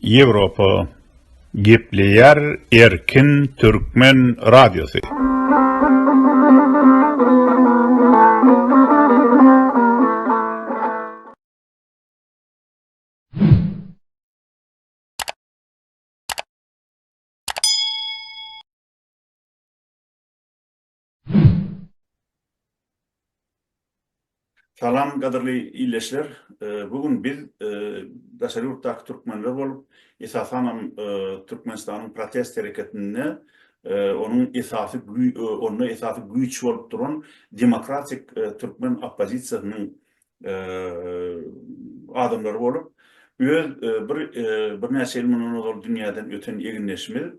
Ýewropa gepleýär erkin türkmen radiosy. Salam gadyrly illeşler. Bu gün biz daşary ýurtdaky türkmenler bolup, esasanam Türkmenistanyň protest hereketinde onuň esasy onda esasy güýç bolup duran demokratik türkmen oppozisiýasynyň adamlar bolup, öz bir birnäçe ýyl mundan ozal dünýäden öten egindeşimiz,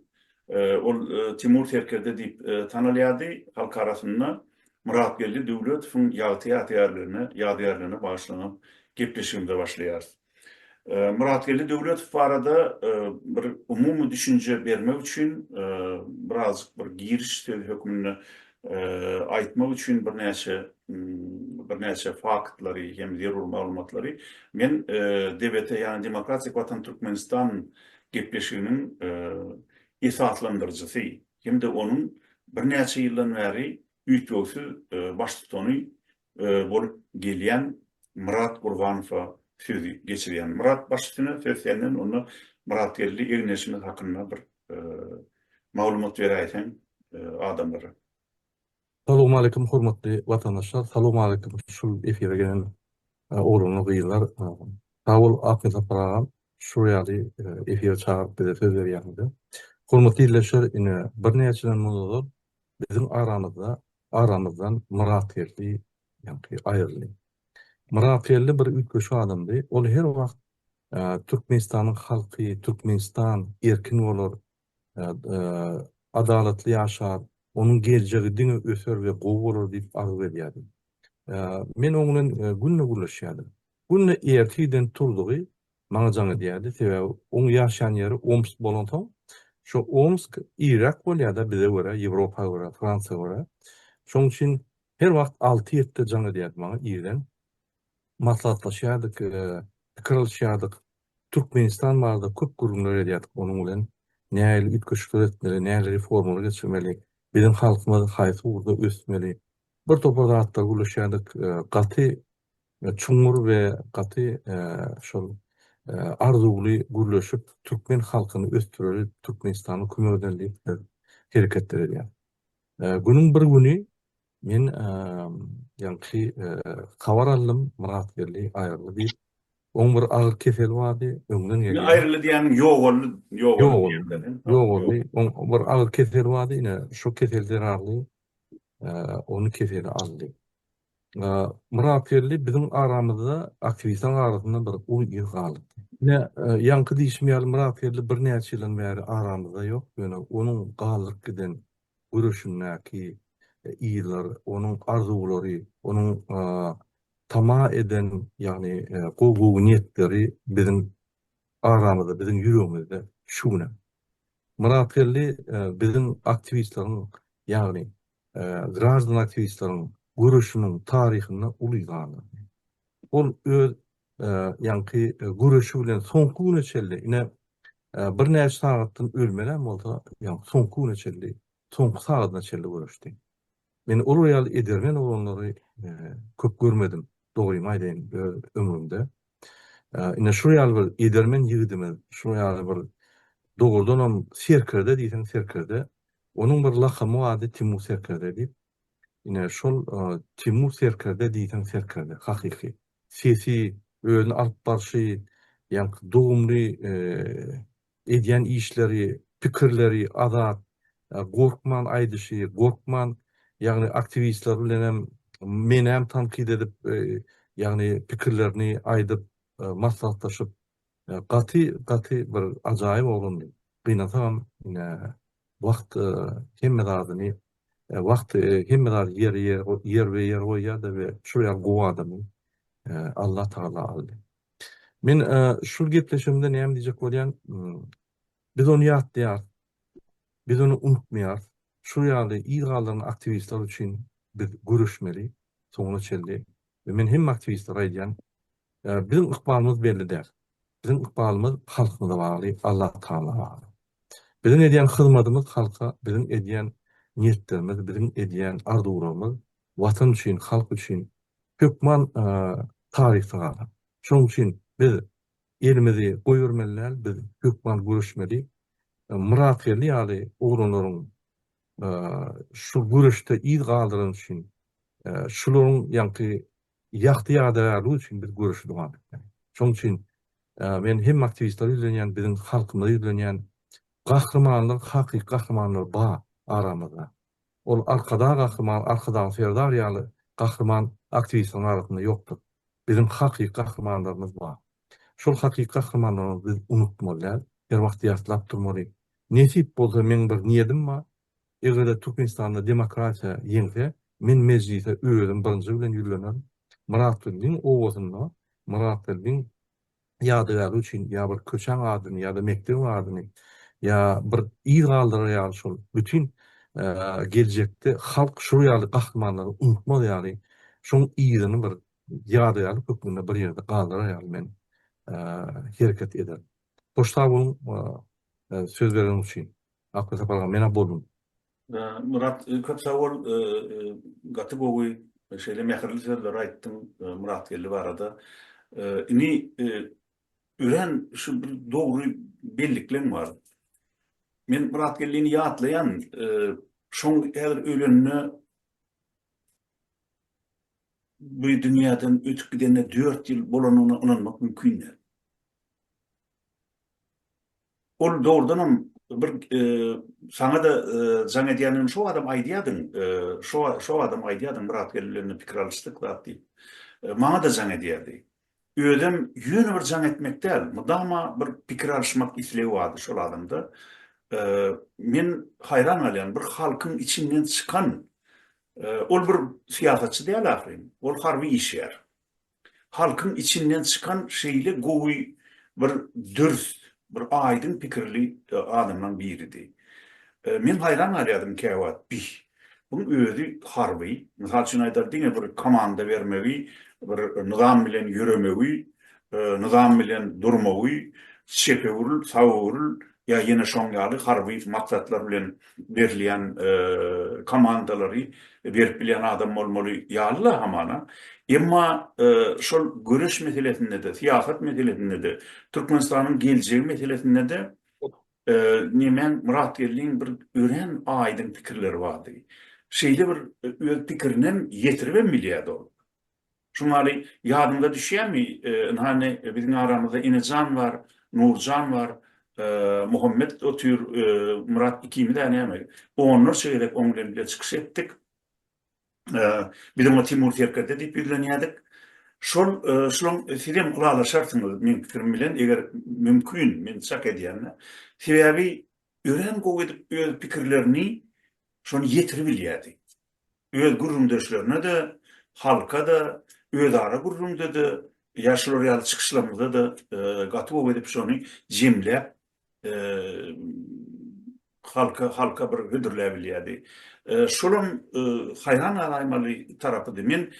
ol Timur Serkerde diýip tanalýardy, halk arasynda Myratgeldi Döwletowyň ýagty ýadygärligine ýadygärligine bagyşlanan gepleşigimize başlaýarys. Myratgeldi Döwletow barada bir umumy düşünje bermek üçin birazjyk bir giriş sözi hökmünde aýtmak üçin birnäçe birnäçe faktlary hem zerur maglumatlary men DBT ýagny Demokratik Watan Türkmenistan gepleşiginiň esaslandyryjysy hem-de onuň birnäçe ýyldan bäri üýtgewsiz baştutany bolup gelýän Myrat Gurbanowa sözi geçirýän. Myrat baş üstüne söz senden onda Myratgeldi Egneşimiz hakynda bir maglumat beräýseň adamlara. Salowmaleýkim hormatly watandaşlar, salowmaleýkim şu efire gelen oglanlar gyzlar. Sag bol Akgazapar agam şu ýaly efire çagyryp bize söz berýäňize. Hormatly ildeşler ine birnäçeden mundan ozal Biziň aramyzda aramyzdan Myratgeldi ýaňky aýryldy. Myratgeldi bir üýtgeşik adamdy. Ol her wagt Türkmenistanyň halky, Türkmenistan erkin bolar, adalatly ýaşar, onuň geljegi diňe öser we gowy bolar diýip arzuw edýärdi. Men oň bilen günde gürleşýärdim. Günde ertirden turzugy Maňa jaň edýärdi, sebäbi oň ýaşaýan ýeri Omsk bolansoň, şo Omsk iriräk bolýar-da bize görä, Ýewropa görä, Fransiýa görä. Şoň üçin her wagt alty-ýetide jaň edýärdi maňa irden. Maslahatlaşýardyk, pikir alyşýardyk. Türkmenistan barada köp gürrüňler edýärdik onuň bilen. Nähili üýtgeşikler etmeli, nähili reformalar geçirmeli, biziň halkymyz haýsy ugurda ösmeli. Birtopar zatlar gürleşýärdik. Gaty çuňňur we gaty şol arzuwly gürleşip türkmen halkyny ösdüreli Türkmenistana kömek edeli diýip biz hereketler edýär. Günüň bir güni men ýaňky habar aldym Myratgeldi aýryldy diýip oň bir agyr keseli bardy öňden gelýär. Aýryldy diýýäniň ýogaldy ýogaldy ýogaldy oň bir agyr keseli bardy ine şo kesel zerarly ony keseli aldy. Myrat geldi biziň aramyzda aktiwistaň arasynda bir uly ir galypdy. Ine, ýaňky diýşim ýaly Myrat geldi birnäçe ýyldan bäri aramyzda ýok, ýöne onuň galdyryp giden göreşindäki yzlar, onuň arzuwlary, onuň tama eden, ýagny gowy-gowy niýetleri biziň aramyzda, biziň ýüregimizde şu günem. Myrat geldi biziň aktiwistleriň, ýagny graždan aktiwistleriň göreşiniň taryhynda uly sandyr. Ol öz ýaňky göreşi bilen soňky güne çenli, ine, birnäçe sagatdan ölmelem bolsa, ýa-da soňky güne çenli, soňky sagadyna çenli göreşdi. Men olar ýaly edermen oglanlary köp görmedim, dogrymy aýdaýyn, öz ömrümde. Ine şu ýaly bir edermen ýigidimiz, şu ýaly bir dogrudanam serkerde diýseň serkerde. Onuň bir lakamy bardy Timur serkerde diýip. Ine şol Timur serkerde diýseň serkerde hakyky. Sesi, özüni alyp barşy, ýaňky dogumly Edýän işleri, pikirleri azat, gorkman aýdyşy, gorkman, ýagny aktiwistler bilen hem, meni hem tankyt edip, ýagny pikirlerini aýdyp, maslahatlaşyp, gaty, gaty bir ajaýyp oglandy. Gynansagam, ine, wagt hemme zadyny, wagt hemme zady ýerbe-ýer goýýar-da we şol ýaly gowy adamy Allatagala aldy. Men şul gepleşigimde näme diýjek bolýan, biz ony ýatlaýarys, biz ony unutmaýarys, şul ýaly yz galdyran aktiwistler üçin biz göreşmeli soňuna çenli we men hemme aktiwistlere aýdýan, biziň ykbalymyz belli däl, biziň ykbalymyz halkymyza bagly, Allatagala bagly. Biziň edýän hyzmadymyz halka, biziň edýän niýetlerimiz, biziň edýän arzuwlarymyz Watan üçin, halk üçin hökman taryhda galar. Şonuň üçin biz elimizi goýbermeli däl, biz hökman göreşmeli. Myratgeldi ýaly oglanlaryň şu göreşde yz galdyrany üçin, şularyň ýaňky ýagty ýadygärligi üçin biz göreşi dowam etmeli. Şonuň üçin men hem aktiwistlere ýüzlenýän, biziň halkymyza ýüzlenýän, gahrymanlar, hakyky gahrymanlar bar aramyzda. Ol Arkadag Gahryman Arkadag Serdar ýaly gahryman aktiwistiň arasynda ýokdur. Biziň hakyky gahrymanlarymyz bar. Şol hakyky gahrymanlarymyzy biz unutmaly däl, her wagt ýatlap durmaly. Nesip bolsa meň bir niýedim bar. Eger-de Türkmenistanda demokratiýa ýeňse, men Mejlise özüm birinji bilen ýüzlenerin. Myratgeldiň obasynda, Myratgeldiň ýadygärlik üçin ýa bir köçäň adyny ýa-da mekdebiň adyny ýa bir yz galdyrar ýaly şol bütin geljekde halk şu ýaly gahrymanlary unutmaz ýaly şoň yzyny bir ýadygärlik hökmünde bir ýerde galdyrar ýaly men hereket eder. Hoş sag boluň söz bereniň üçin. Akgöz Sapar aga men-ä boldum. Myrat köp sag bol gaty gowy şeýle mähirli sözleri aýtdyň Myratgeldi barada. Ini örän şu bir dogry bellikleň bar. Men Myratgeldini ýatlaýan şoň häzir ölenine bu dünýäden ötüp gidenine 4 ýyl bolanyna ynanmak mümkin däl. Ol dogrudanam bir saňa-da jaň edýändigini şo badam aýdýardyň, şo badam aýdýardyň Myratgel bilen pikir alyşdyk zat diýip. Maňa-da jaň edýärdi. Özem ýöne bir jaň etmek däl, mydama bir pikir alyşmak islegi bardy şol adamda. Men haýran galýan, bir halkyň içinden çykan, ol bir syýasatçy däl ahyryn, ol harby işgär. halkyň içinden çykan şeýle gowy bir dürs, bir aýdyň pikirli adamlaň biridi. Men haýran galýadym käwagt, bih, buň özi harby, mysal üçin aýdaly diňe bir komanda bermegi, bir nyzam bilen ýöremegi, nyzam bilen durmagy, çepewrl, sawurl, ýa ýene şoň ýaly harby maksatlar bilen berilýän komandalary berip bilýän adam bolmaly ýaly-la hamana. Emma şol göreş meselesinde-de, syýasat meselesinde-de, Türkmenistanyň geljegi meselesinde-de nemäň Myratgeldiň bir örän aýdyň pikirleri bardy. Şeýle bir öz pikirini hem ýetiribem bilýärdi ol. Şumaly, ýadyňyza düşýärmi, ynhany, biziň aramyzda Enejan bar, Nurjan bar, Muhammet otyr, Myrat ikimiz-ä näme, onlarça gezek oň bilen bile çykyş etdik. Biz oňa Timur serkerde diýip ýüzlenýärdik. Şol, şulaň, sizem ylalaşarsyňyz meň pikirim bilen, eger mümkin, men çak edýän-ä. Sebäbi örän gowy edip öz pikirlerini şony ýetiribilýärdi. öz gürrüňdeşlerine-de, halka-da, özara gürrüňde-de, ýa şular ýaly çykyşlarymyzda-da gaty gowy edip şony jemläp, halka, halka bir hödürläp bilýärdi. Şolam haýran galaýmaly tarapydy. Men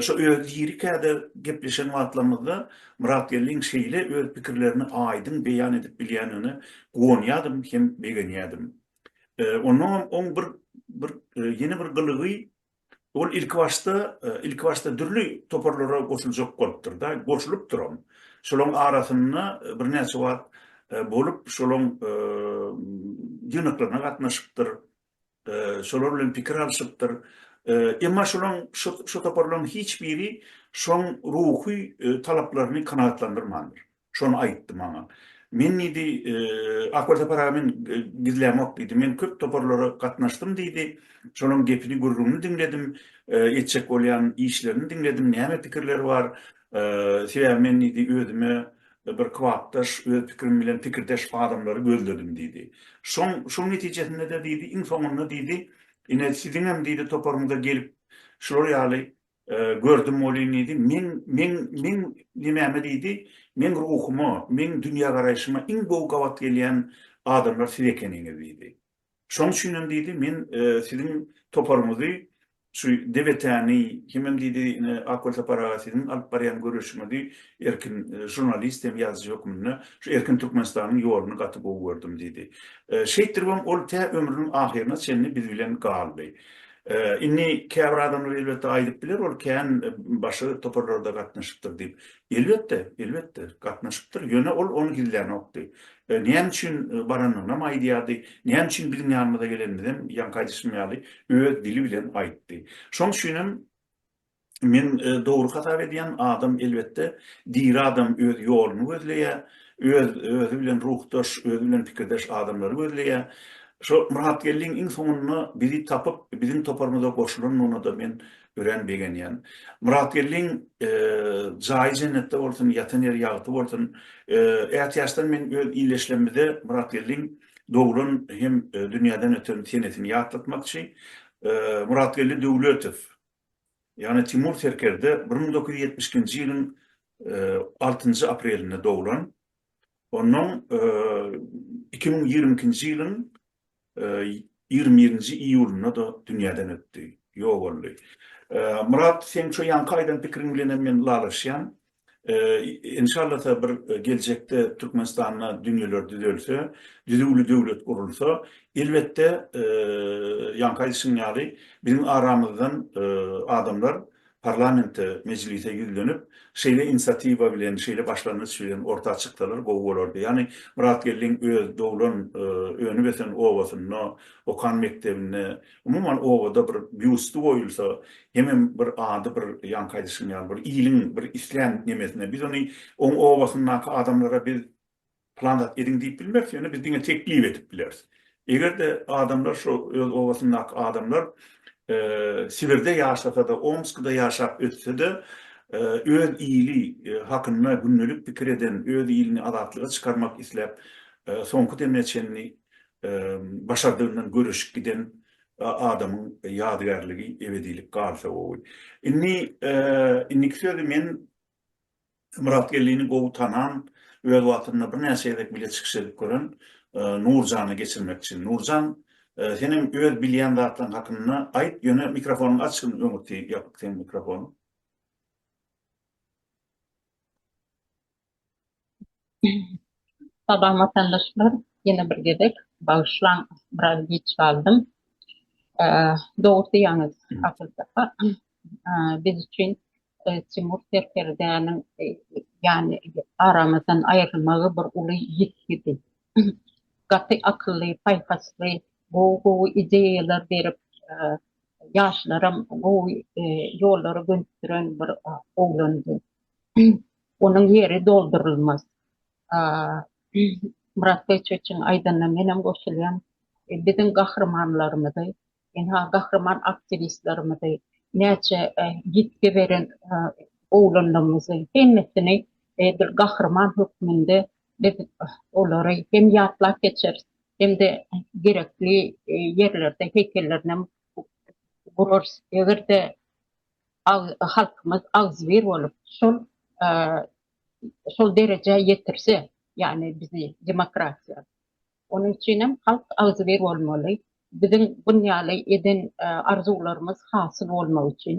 şo öz lirikada gepleşen wagtlarymyzda Myrat Geldiň şeýle öz pikirlerini aýdyň beýan edip bilýändigine guwanýardym hem begenýärdim. Onnoňam oň bir bir ýene bir gylygy ol ilki başda ilki başda dürli toparlara goşuljak bolupdyr-da, goşulypdyram. Şolaryň arasynda birnäçe wagt bolup, şolaryň ýygnaklaryna gatnaşypdyr, şolar bilen pikir alşypdyr. Emma şolaryň şu toparlaryň hiç biri şoň ruhy talaplaryny kanagatlandyrmandyr. Şony aýtdy maňa. Men diýdi, Ak welsapar aga men gizlämok diýdi. Men köp toparlara gatnaşdym diýdi. Şolaň gepini gürrüňini diňledim. Etjek bolýan işlerini diňledim. Näme pikirleri bar. Sebäbi men diýdi özüme bir kybapdaş, öz pikirim bilen pikirdeş adamlary gözledim diýdi. Şoň şoň netijesinde-de diýdi iň soňunda diýdi ine siziňem diýdi toparyňyza gelip şular ýaly Gördüm ol inidi, meň, meň, meň nimäme diýdi, meň ruhuma, meň dünýägaraýşyma iň gowy gabat gelýän adamlar siz ekeniňiz diýdi. Şoň üçin hem diýdi, men siziň toparyňyzy, şu DBT-ni, hemem diýdi, ine, Ak Welsapar aga siziň alyp barýan göreşiňizi erkin žurnalist hem ýazyjy hökmünde şu erkin Türkmenistanyň ýoluny gaty gowy gördüm diýdi. Şeýtdiribem ol tä ömrüniň ahyryna çenli biz bilen galdy. Indi käbir adamlar elbetde aýdyp biler, ol kän başga toparlarda gatnaşypdyr diýip. Elbetde, elbetde, gatnaşypdyr, ýöne ol ony gizlänokdy. Näme üçin baranynam aýdýardy, näme üçin biziň ýanymyza gelenimizem ýaňky aýdyşym ýaly öz dili bilen aýtdy. Şonuň üçinem Men dogry hasap edýän adam elbetde diri adam öz ýoluny gözleýä, öz özi bilen ruhdaş, özi bilen pikirdeş adamlary gözleýä. Şo Myratgeldiň iň soňunda bizi tapyp biziň toparymyza goşulanyna-da men örän begenýän. Myratgeldiň jaýy jennetde bolsun, ýatan ýeri ýagty bolsun. Ätiýaçdan men öz ileşlemde Myratgeldiň doglan hem dünýäden öten senesini ýatlatmakçy. Myratgeldi Döwletow. ýagny Timur Serkerde bir müň dokuz ýüz ýetmiş ikinji ýylyň altynjy aprelinde doglan, onnoň iki müň ýigrimi ikinji ýylyň ýigrimi birinji iýulynda-da dünýäden ötdi, ýok boldy. Myrat, seň şo ýaňky aýdan pikiriň bilenem men ylalaşýan. Enşallata bir geljekde Türkmenistanda dünýeler düzelse, düzüwli döwlet gurulsa, elbetde ýaňky aýdyşym ýaly biziň aramyzdan adamlar parlamente, mejlise ýüzlenip, şeýle inisiatiwa bilen, şeýle başlangyç bilen orta çyksalar gowy bolardy. Ýagny Myrat Geldiň öz doglan, önüp ösen obasynda, okan mekdebinde Umuman obada bir býusty goýulsa, hemem bir ady bir ýaňky aýdyşym ýaly bir iliň bir islän nemesine biz ony oň obasyndaky adamlara biz plan zat ediň diýip bilmeris, ýöne biz diňe teklip edip bileris. Eger-de adamlar şo öz obasyndaky adamlar Sibirde ýaşasa-da, Omskda ýaşap ötse-de öz ili hakynda gündelik pikir eden, öz ilini azatlyga çykarmak isläp soňky demine çenli başardygyndan göreşip giden adamyň ýadygärligi ebedilik galsa gowy. Indi indiki sözi men Myrat Geldini gowy tanan, öz wagtynda birnäçe gezek bile çykyş edip gören Nurjana geçirmekçi. Nurjan, sen hem öz bilýän zatlaryň hakynda aýt, ýöne mikrofonyňy aç, öňürti ýapyk seniň mikrofonyň. Salam watandaşlar. Ýene bir gezek bagyşlaň, biraz giç galdym. Dogry diýýäňiz Akyl kaka. Biz üçin Timur serkerdäniň ýany aramyzdan aýrylmagy bir uly ýitgidi. Gaty akylly, paýhasly, gowy-gowy ideýalar berip, ýaşlaram gowy ýollara gönükdiren bir oglandy. Onuň ýeri doldurylmaz. Myrat Beýçeçiň aýdanyna menem goşulýan. Biziň gahrymanlarymyzy, ynha gahryman aktiwistlerimizi, näçe ýitgi beren oglanlarymyzy hemmesini bir gahryman hökmünde biz olary hem ýatlap geçeris, hem-de gerekli ýerlerde heýkellerinem gurarys. Eger-de halkymyz agzybir bolup şol şol derejä ýetirse, ýagny bizi demokratiýa. Onuň üçinem halk agzybir bolmaly. Biziň bun ýaly eden arzuwlarymyz hasyl bolmagy üçin.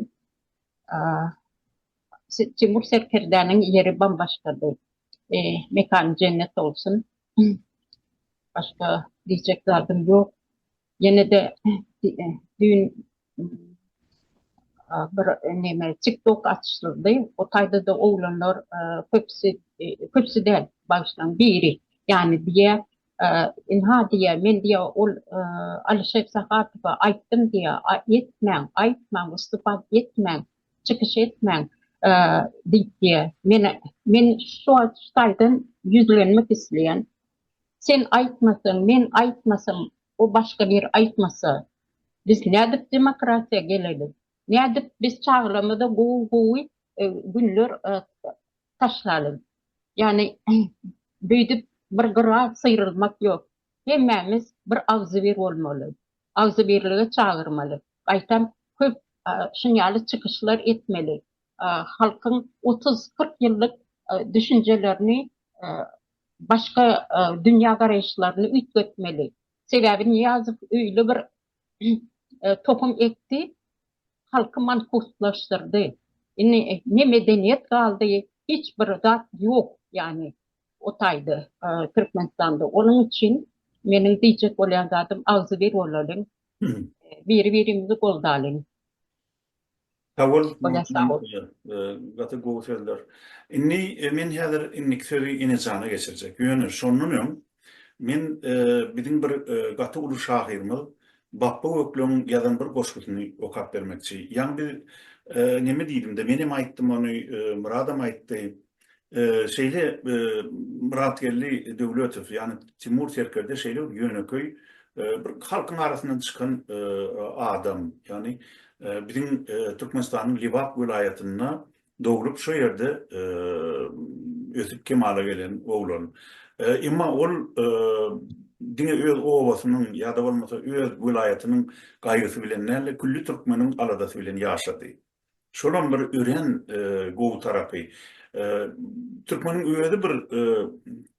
Timur serkerdäniň ýeri bambaşgady. Mekany jennet bolsun. Başga diýjek zadym ýok. Ýene-de düýn bir näme TikTok açyldy. O taýda-da oglanlar köpüsi, köpüsi däl, bagyşlaň, biri, ýany diýýär, Ynha diýýär, men diýýär, ol Alyşek Sahatowa aýtdym diýýär, etmäň, aýtmaň, wystupad etmäň, çykyş etmäň diýip diýýär. Men, men şu şu taýdan ýüzlenmek isleýän. Sen aýtmasaň, men aýtmasam, o başga bir aýtmasa, biz nädip demokratiýa geleli? Nädip biz çagalarymyza gowy-gowy günler taşlaly? Ýagny, beýdip bir gyra syrylmak ýok. Hemmämiz bir agzybir bolmaly. Agzybirlige çagyrmaly. Gaýtam, köp şunýaly çykyşlar etmeli. Halkyň otuz-kyrk ýyllyk düşünjelerini başga dünýä garaýyşlaryny üýtgetmeli. Sebäbi Nyýazow öýle bir tohum ekdi, halky mankuslaşdyrdy. Indi ne medeniýet galdy, hiç bir zat ýok, ýagny o taýda Türkmenistanda. Onuň üçin meniň diýjek bolýan zadym, agzybir bolalyň, biri-birimizi goldalyň. Sagol gaty gowy sözler. Indi men häzir indiki sözi Enejana geçirjek. Ýöne şondan öň men biziň bir gaty uly şahyrymyz Bapba Gökleň ýazan bir goşgusyny okap bermekçi. Ýaňy biz neme diýdimde, menem aýtdym ony, Myradam aýtdy. Şeýle Myratgeldi Döwletow, ýagny Timur serkerde şeýle bir ýönekeý bir halkyň arasyndan çykan adam, ýagny biziň Türkmenistanyň Lebap welaýatynda doglup, şo ýerde ösüp kemala gelen oglan. Emma ol diňe öz obasynyň ýa-da bolmasa öz welaýatynyň gaýgysy bilen däl-de, külli türkmeniň aladasy bilen ýaşady. Şolam bir örän gowy tarapy. Türkmeniň özi bir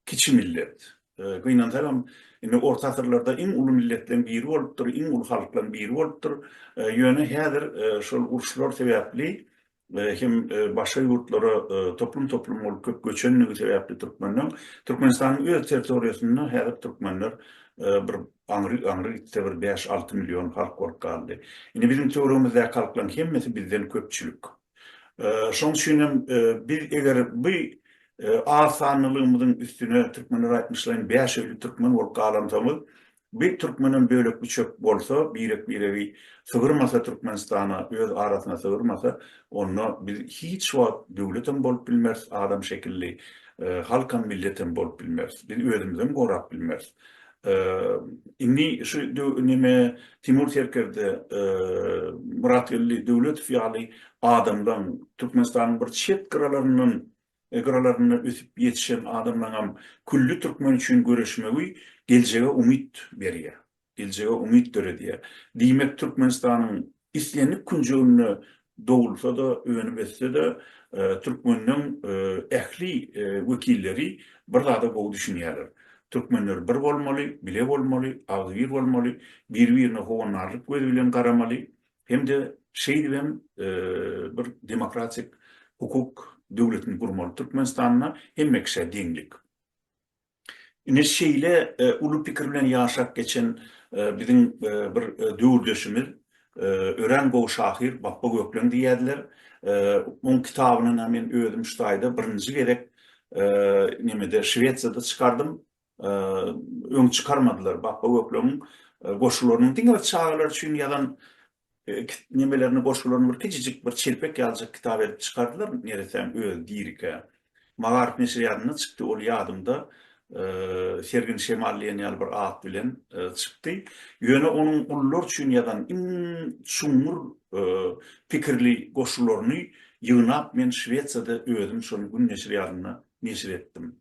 kiçi millet. Gynansagam, indi orta asyrlarda iň uly milletleriň biri bolupdyr, iň uly halklaryň biri bolupdyr. Ýöne häzir şol uruşlar sebäpli hem başga ýurtlara toplum-toplum bolup köp göçendigi sebäpli türkmenleň, Türkmenistanyň öz territoriýasynda häzir türkmenler bir Aňry, aňry gitse bir bäş-alty million halk bolup galdy. Indi biziň töweregimizdäki halklaryň hemmesi bizden köpçülik. Şoň üçin hem biz eger bu az sanlylygymyzyň üstüne türkmenler aýtmyşlaýyn bäş öýli türkmen bolup galansoňyz, bir türkmenem bölek-büçek bolsa, birek-biregi sygyrmasa Türkmenistana, öz arasyna sygyrmasa, onda biz hiç wagt döwletem bolup bilmeris, adam şekilli halkam, milletem bolup bilmeris. Biz özümizem gorap bilmeris. Indi şu neme Timur serkerde Myratgeldi Döwletow ýaly adamlaň Türkmenistanyň bir çet gyralaryndan gyralarynda ösüp ýetişen adamlaňam külli türkmen üçin göreşmegi geljege umyt berýär. Geljege umyt döredýär. Diýmek Türkmenistanyň Islendik künjeginde dogulsa-da, önüm etse-de, türkmeniň ähli wekilleri bir zada gowy düşünýärler. Türkmenler bir bolmaly, bile bolmaly, agzybir bolmaly, biri-birine howandarlyk gözi bilen garamaly hem-de şeýdibem bir demokratik hukuk döwletini gurmaly. Türkmenistanda hemme kişä deňlik. Ine şeýle uly pikir bilen ýaşap geçen biziň bir döwürdeşimiz, örän gowy şahyr Bapba Gökleň diýýärdiler. Oň kitabyny na men özüm şu taýda birinji gezek nemede Şwesiýada çykardym. Öň çykarmadylar. Bapba Gökleňiň goşgularynyň diňe bir çagalar üçin ýazan nemelerini, goşgularyny bir kiçijik bir çelpek ýalyjyk kitap edip çykardylar, neresäň özi dirikä. Magaryf neşirýadynda çykdy, ol ýadymda, Sergin şemal diýen ýaly bir at bilen çykdy. Ýöne onuň gullar üçin ýazan iň çuňňur pikirli goşgularyny ýygnap men Şwesiýada özüm şony gün neşirýadynda neşir etdim.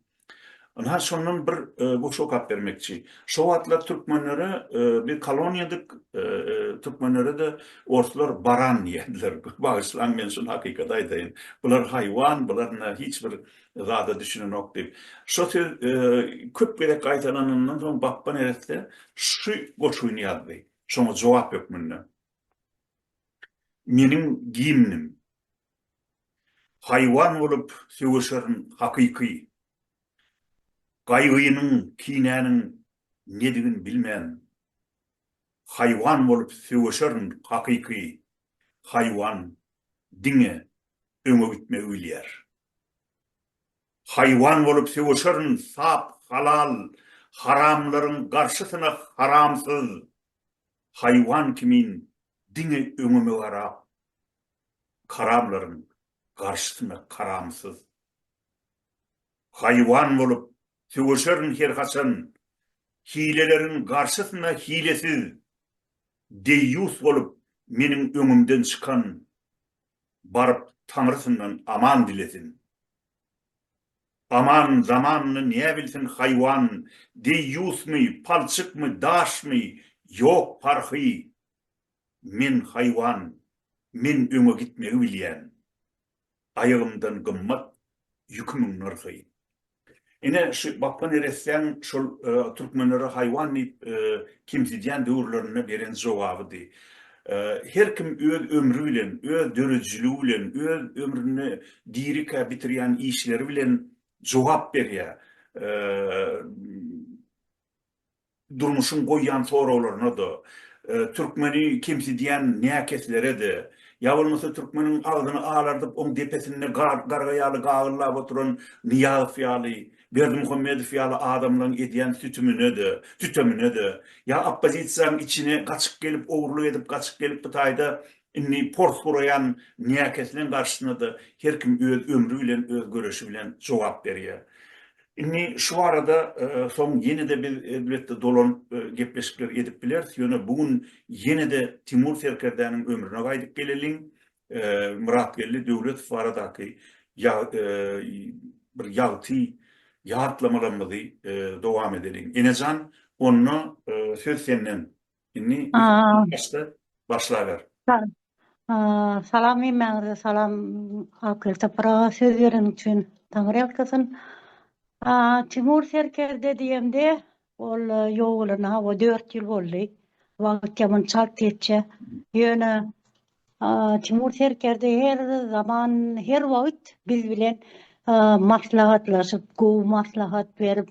Ynha, şondan bir goşgy okap bermekçi. Şo wagtlar türkmenlere biz koloniýadyk, türkmenlere-de orslar baran diýerdiler. Bagyşlaň, men şuny hakykat aýdaýyn. Bular haýwan, bular ynha hiç bir zada düşünenok diýip. Şo söz köp gezek gaýtalanandan soň Bapba neresse şu goşgyny ýazdy. Şoňa jogap hökmünde. Meniň gimnim. Haýwan bolup sögüşerin hakyky. Gaýgynyň, kinäniň nedigin bilmän. Haýwan bolup sögüşerin hakyky. Haýwan diňe öňe gitmegi bilýär. Haýwan bolup sögüşerin sap, halal, haramlaryň garşysyna haramsyz. Haýwan kimin diňe öňüme garap. karamlaryň garşysyna karamsyz haýwan bolup söweşerin her haçan, hileleriň garşysyna hilesiz deýýus bolup meniň öňümden çykan baryp Taňrysyndan aman dilesin. Aman zamanyny näbilsin haýwan, deýýusmy, palçykmy, daşmy, ýok parhy. Men haýwan, men öňe gitmegi bilýän. Aýagymdan gymmat ýükümiň nyrhy. Ine, şu Bapba neressäň şol türkmenlere haýwan diýip kemsidýän döwürlerinde beren jogabydy. Her kim öz ömri bilen, öz döredijiligi bilen, öz ömrüni dirikä bitirýän işleri bilen jogap berýär. Durmuşyň goýýan soraglaryna-da, türkmeni kemsidýän näkeslere-de, ýa bolmasa türkmeniň agzyny alardyp, oň depesinde garga ýaly gagyllap oturan Nyýazow ýaly, Berdimuhamedow ýaly adamlaryň edýän sütümine-de, sütemine-de, ýa oppozisiýaň içine gaçyp gelip, ogurlyk edip gaçyp gelip bu taýda indi pors guraýan näkesleň garşysyna-da her kim öz ömri bilen, öz göreşi bilen jogap berýär. Indi şu barada soň ýene-de biz elbetde dolan gepleşikler edip bileris, ýöne bu gün ýene-de Timur serkerdäniň ömrüne gaýdyp geleliň. Myratgeldi Döwletow baradaky bir ýagty ýatlamalarymyzy dowam edeliň. Enejan, onda söz senden. Indi başda başlaber. Salam hemmäňize salam Akyl topraga söz beren üçin taňryýalkasyn. Timur serkerde diýemde ol ýok bolana hawa dört ýyl boldy. Wagt ýaman çalt geçýär. Ýöne Timur Serkerde her zaman her wagt biz bilen maslahatlaşyp gowy maslahat berip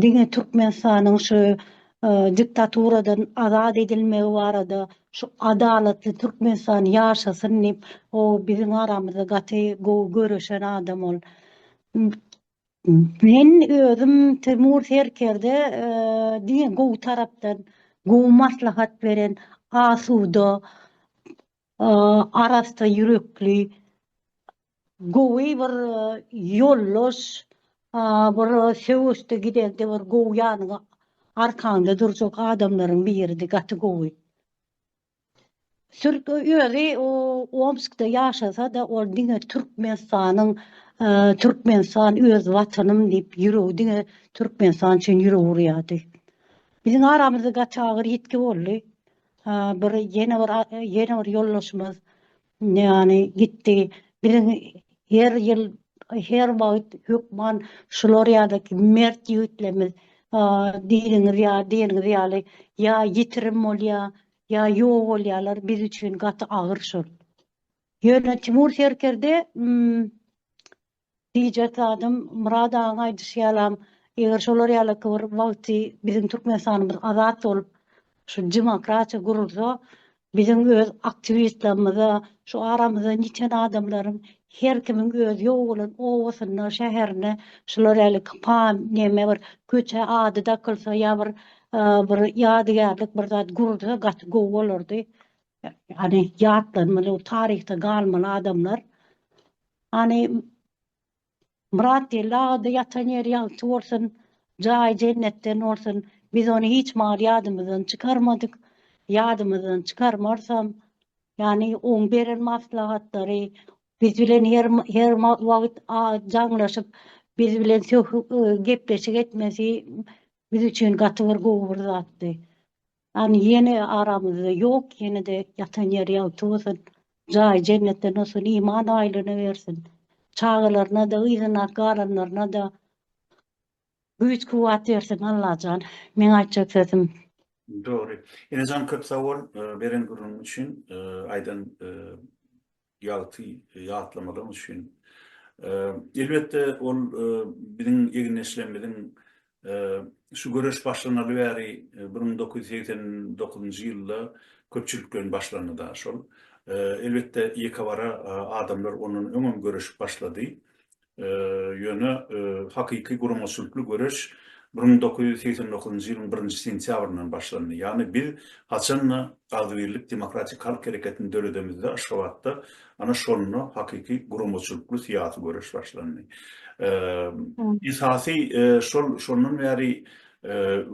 diňe Türkmenistanyň şu diktaturadan azat edilmegi barada şu adalatly Türkmenistan ýaşasyn diýip o biziň aramyzda gaty gowy göreşen adam ol. Men özüm Temur Serkerde diňe gowy tarapdan, gowy maslahat beren, asuda, arassa ýürekli, gowy bir ýoldaş, bir söweşde gidende bir gowy ýanyňa, arkaňda durjak adamlaryň biridi, gaty gowy. Türk özi Omskda ýaşasa-da ol diňe Türkmenistanyň Türkmenistan öz watanym diýip ýüregi diňe Türkmenistan üçin ýüregi urýardy. Biziň aramyzda gaty agyr ýitgi boldy. Bir ýene bir ýene bir ýoldaşymyz Ýany gitdi. Biziň her ýyl, her wagt hökman şular ýa-da mert ýigitlerimiz diýdigiňiz ýa diýeniňiz ýaly ýa ýitirim bolýa, ýa ýok bolýalar, biz üçin gaty agyr şol. Ýöne Timur Serkerde Diýjek zadym, Myrat agaň aýdyşy ýalam, eger şolar ýalaky bir wagty biziň Türkmenistanymyz azat bolup, şu demokratiýa gurulsa, biziň öz aktiwistlerimize, şu aramyzdan ýiten adamlaryň her kimiň öz ýok bolan obasyna, şäherine şular ýalyk pa, neme bir köçä ady dakylsa ýa bir bir ýadygärlik bir zat gurulsa gaty gowy bolardy. Ýagny ýatlanmaly, taryhda galmaly adamlar. Hany Myrat geldi agada ýatan ýeri ýagty bolsun, jaýy jennetden bolsun. Biz ony hiç wagt ýadymyzdan çykarmadyk, ýadymyzdan çykarmarysam. Ýani oň beren maslahatlary biz bilen her her wagt jaňlaşyp biz bilen gepleşik etmesi biz üçin gaty bir gowy bir zatdy. An ýene aramyzda ýok ýenede ýatan ýeri ýagty bolsun jaýy jennetden olsun iman aýlyny bersin çagalaryna da yzyna galanlaryna da güýç kuwwat bersin Allajan meň aýtjak sözüm. Dogry. Enejan köp sag bol beren gürrüňiň üçin aýdan ýagty ýatlamalaryňyz üçin. Elbetde, ol biziň egindeşlerimiziň şu göreş başlanaly bäri bir müň dokuz ýüz segsen dokuzynjy ýylda köpçülik bilen başlandy daşol. Elbetde, ýekebara adamlar ondan öňem göreşip başlady. Ýöne hakyky guramaçylykly göreş bir müň dokuz ýüz segsen dokuzynjy ýylyň birinji sentýabryndan başlandy. Ýagny biz haçan-da agzybirlik demokratik halk hereketini döredemizde Aşgabatda ana şonda hakyky guramaçylykly syýasy göreş başlandy. Esasy şol şondan bäri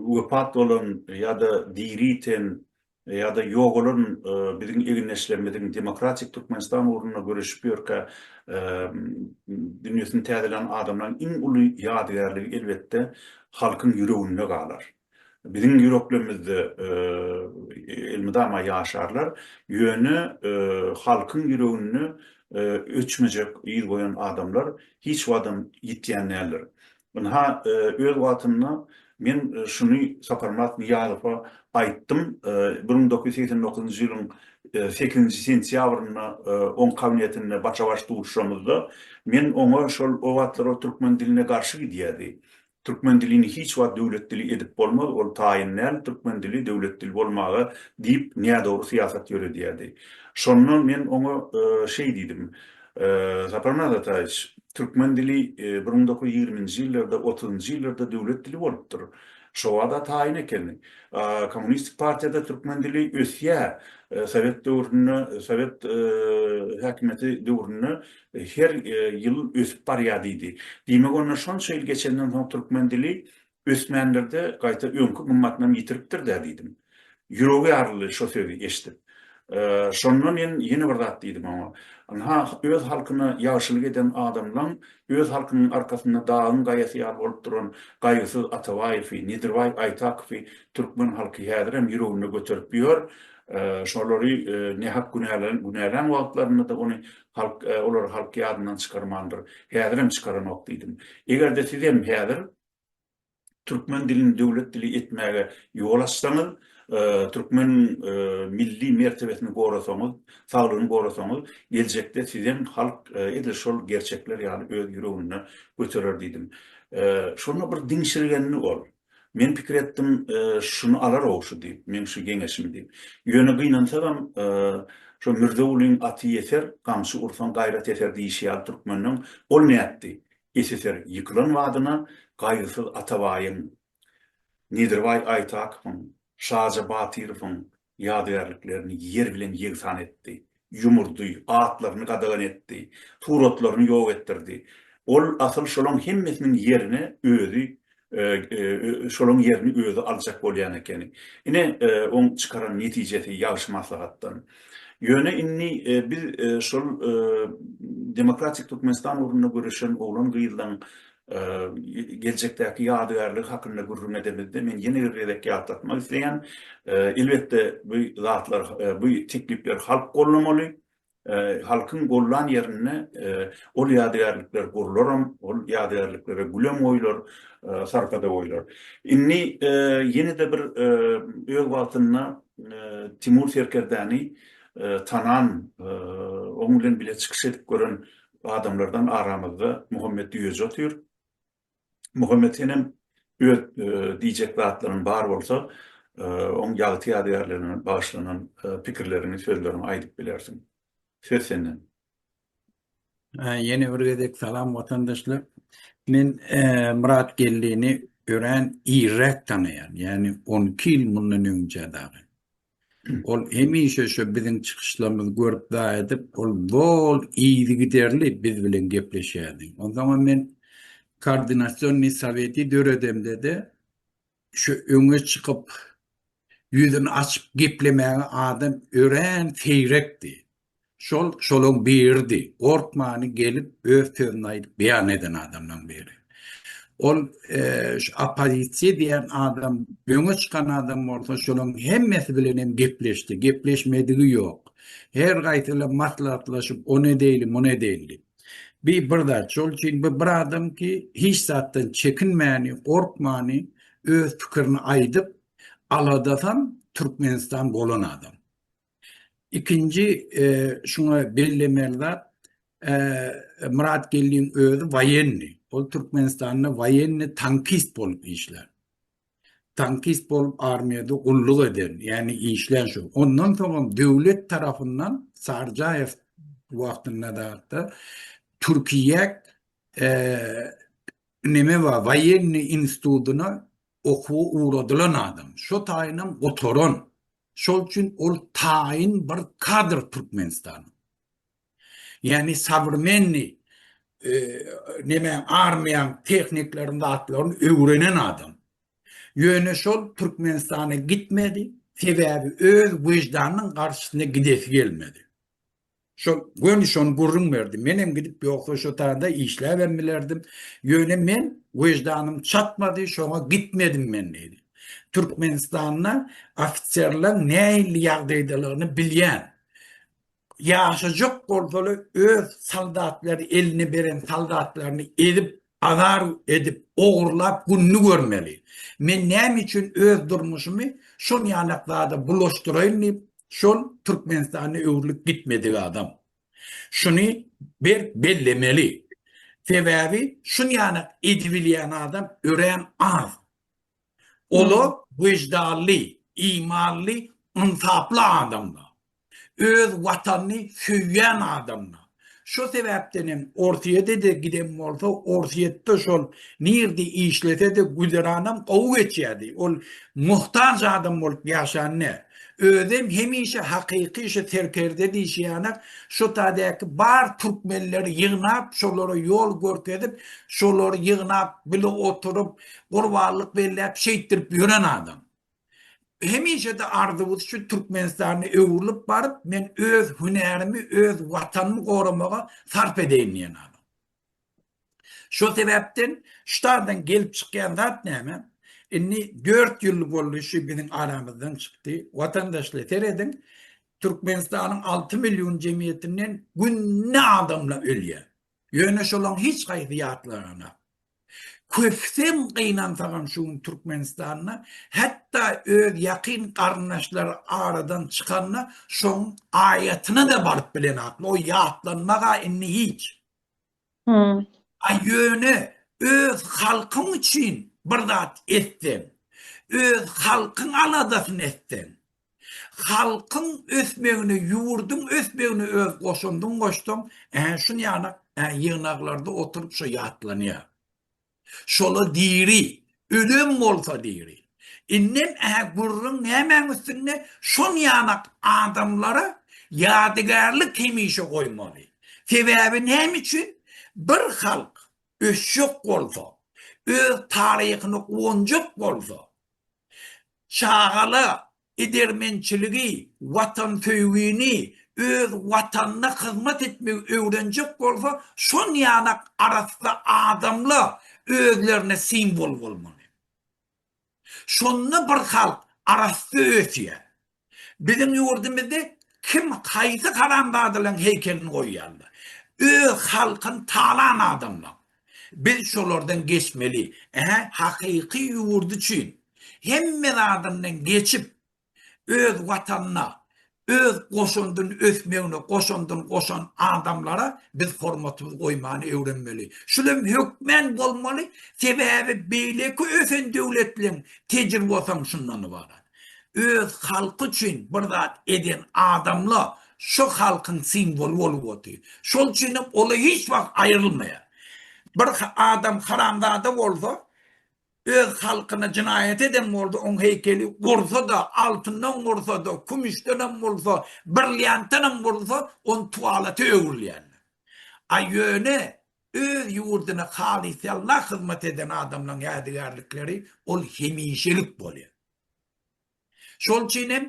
wepat bolan ýa-da diri iten Ýa-da ýogalan biziň egindeşlerimiziň demokratik Türkmenistan ugrunda göreşip ýörkä dünýesini täzelän adamlaryň iň uly ýadygärligi elbetde halkyň ýüreginde galar. Biziň ýüreklerimizde elmydama ýaşarlar, ýöne halkyň ýüreginde öçmejek yz goýan adamlar hiç wagtam ýitýän däldir. Ynha, öz wagtynda men şuny Saparmyrat Nyýazowa aýtdym, bir müň dokuz ýüz segsen dokuzynjy ýylyň sekizinji sentýabrynda oň kabinetinde başa-baş duşuşamyzda, men oňa şol o wagtlar ol türkmen diline garşy gidýärdi. Türkmen dilini hiç wagt döwlet dili edip bolmaz, ol taýyn däl, türkmen dili döwlet dili bolmaga diýip nädogry syýasat ýöredýärdi. Şonda men oňa şeý diýdim, Saparmyrat Ataýewiç, türkmen dili bir müň dokuz ýüz ýigriminji ýyllarda, otuzynjy ýyllarda döwlet dili bolupdyr. Şo wada taýyn ekeni. Kommunistik partiýada türkmen dili ösýär. Sowet döwründe, sowet häkimiýeti döwründe her ýyl ösüp barýar diýdi. Diýmek, onda şonça ýyl geçenden soň türkmen dili Ösmändir-de, gaýta öňki gymmatynam ýitiripdir-dä diýdim. Ýüregi ýaryldy şo sözi eşidip. Şonda men ýene bir zat diýdim oňa. Ynha, öz halkyna ýagşylyk eden adamlaň öz halkynyň arkasynda dagyň gaýasy ýaly bolup duran Gaýgysyz Atabaýewi, Nedirbaý Aýtakowy türkmen halky häzirem ýüreginde göterip ýör. Şolary nähak günälän wagtlarynda-da ony halk, olary halk ýadyndan çykarmandyr. Häzirem çykaranok diýdim. Eger-de sizem häzir türkmen dilini döwlet dili etmäge ýol açsaňyz, türkmeniň milli mertebesini gorasaňyz, saglygyny gorasaňyz, geljekde sizem halk edil şol gerçekler ýaly öz ýüreginde göterer diýdim. Şonda bir diňşirgendi ol. Men pikir etdim, şuny alar-ow şu diýip, meň şu geňeşimi diýip. Ýöne gynansagam, şo Mürzewulyň aty ýeser, gamçy ursaň gaýrat ýeter diýşi ýaly türkmeniň, ol nätdi? SSR ýykylan badyna Gaýgysyz Atabaýyň, Nedirbaý Aýtakowyň, Şaja Batyrowyň ýadygärliklerini ýer bilen ýegsan etdi, ýumurdy, atlaryny gadagan etdi, suratlaryny ýok etdirdi. Ol asyl şolaň hemmesiniň ýerine özi şolaň ýerini özi aljak bolýan ekeni. Ine, oň çykaran netijesi ýagşy maslahatdan. Ýöne indi biz şol Demokratik Türkmenistan ugrunda göreşen oglan-gyzlaň geljekdäki ýadygärligi hakynda gürrüň edemizde, men ýene bir gezek ýatlatmak isleýän, elbetde, bu zatlar, bu teklipleri halk gollamaly, Halkyň gollan ýerinde ol ýadygärlikler gurlaram, ol ýadygärliklere gülem goýlar, sarpa-da goýlar. Indi ýene-de bir öz wagtynda Timur serkerdäni tanan, oň bilen bile çykyş edip gören adamlardan aramyzda Muhammet Düýeji otyr. Muhammet senem öz diýjek zatlaryň bar bolsa, oň ýagty ýadygärligine bagyşlanan pikirleriňi, sözleriňi aýdyp bilersiň. Söz senden. Ýene bir gezek salam watandaşlar. Men Myrat Geldini örän irräk tanaýan, ýagny on iki ýyl mundan öňje dagy. Ol hemişe şu biziň çykyşlarymyzy görüp zaý edip, ol zol yzygiderli biz bilen gepleşýärdi. Onsoňam men Koordinasionnyý soweti döredemde-de, şu öňe çykyp, ýüzüni açyp geplemäge adam örän seýrekdi. Şol şolaň biridi. Gorkmany gelip öz sözüni aýdyp beýan eden adamlaň biri. Ol şu oppozisiýa diýen adam öňe çykan adam bolsa şolaň hemmesi bilen hem gepleşdi. Gepleşmedigi ýok. Her gaýsyla maslahatlaşyp o ne deýli mu ne deýli. Bi bir zat şol üçin bu bir adam ki hiç zatdan çekinmäni gorkmany öz pikirini aýdyp aladasam Türkmenistan bolan adam. Ikinji şuňa bellemeli zat, Myrat Geldiň özi waýenni. Ol Türkmenistanda waýenni tankist bolup işlän. Tankist bolup armiýada gulluk eden, ýagny işlän şu. Ondan soňam döwlet tarapyndan Sarjaýew wagtynda zatda Türkiýe neme bar, waýenni institutyna okuwa ugradylan adam. Şo taýynam gutaran. Şol üçin ol taýyn bir kadr Türkmenistanyň. Ýagny sowremenniý e, näme armiýaň tehniklaryny zatlaryny öwrenen adam. Ýöne şol Türkmenistana gitmedi, sebäbi öz wejdanynyň garşysyna gidesi gelmedi. Şo göni şony gürrüň berdi. Menem gidip ýogsa şo taýda işläbem bilerdim. Ýöne men weždanym çatmady, şoňa gitmedim men diýdi. Türkmenistanda ofiserler nähili ýagdaýdalygyny bilýän. Ýaşajak bolsalar öz soldatlary eline beren soldatlaryny ezip Azar edip, ogurlap gününi görmeli. Men näme üçin öz durmuşymy şon ýalak zada bulaşdyraýyn diýip, şol Türkmenistana öwrülip gitmedik adam. Şuny berk bellemeli. Sebäbi şun ýalak edibilýän adam örän az. Olar wyždanly, imanly, ynsaply adamlar. Öz watanyny söýýän adamlar. Şo sebäpden hem Orsýede-de giden bolsa, Orsýetde şol nirde işlese-de güzeranam gowy geçýärdi. Ol muhtaç adam bolup ýaşan däl. Özem hemişe hakyky şu serkerde diýşýäne şo tadäki bar türkmenleri ýygnap, şolara ýol görkezip, şolary ýygnap bile oturyp, gurbanlyk belläp şeýtdirip ýören adam. Hemişe-de arzuwys şu Türkmenistanda öwrülip baryp, men öz hünärimi, öz watanymy goramaga sarp edeýin diýen adam. Şo sebäpden ştadan gelip çykýan zat näme? Indi 4 ýyl boldy şu biziň aramyzdan çykdy. Watandaşlar serediň, Türkmenistanyň 6 million jemgyýetinden günde adamlar ölýär. Ýöne şolaň hiç haýsy ýatlanana. Köpsem gynansagam şu gün Türkmenistanda hatda öz ýakyn garyndaşlary aradan çykanda şoň aýatyna da baryp bilenakmy o ýatlanmaga indi hiç. A ýöne öz halkyň üçin bir zat etseň, öz halkyň aladasyny etseň, Halkyň ösmegine, ýurduň ösmegine öz goşandyňy goşsaň, ä, şun ýanak, ä, ýygnaklarda oturyp şo ýatlanýar. Şola diri, ölem bolsa diri. Indem, ä, gürrüň nämäň üstünde, şon ýanak adamlara ýadygärlik hemişe goýmaly. Sebäbi näme üçin? Bir halk ösjek bolsa, öz taryhyny guwanjak bolsa, Çagala edermençiligi, watansöýgini, öz Watanyna hyzmat etmegi öwrenjek bolsa, şonýanak arassa adamla özlerine simwol bolmaly. Şonda bir halk arassa ösýär. Biziň ýurdumyzda kim haýsy haramzadalaryň heýkelini goýýarlar. Öz halkyny talan adamlaň. Biz şolardan geçmeli. Ä, hakyky ýurt üçin hemme zadyndan geçip, öz Watanyna öz goşandyn ösmegine goşandyn goşan adamlara biz hormatymyzy goýmany öwrenmeli. Şul hem hökmän bolmaly, sebäbi beýleki ösen döwletleriň tejribasam şundan ybarat. öz halky üçin bir zat eden adamla şu halkyň simwoly bolup otyr. Şol üçin hem ola hiç wagt aýrylmaýar. Bir adam haramzada bolsa, öz halkyna jynaýat eden bolsa, oň heýkeli gursa-da, altyndan gursa-da, kümüşden hem bolsa, brilliantdan hem bolsa, ony tualete öwrülýärler. A ýöne Öz ýurduna halysýalla hyzmat eden adamlaň ýadygärlikleri ol hemişelik bolýar. Şol üçin hem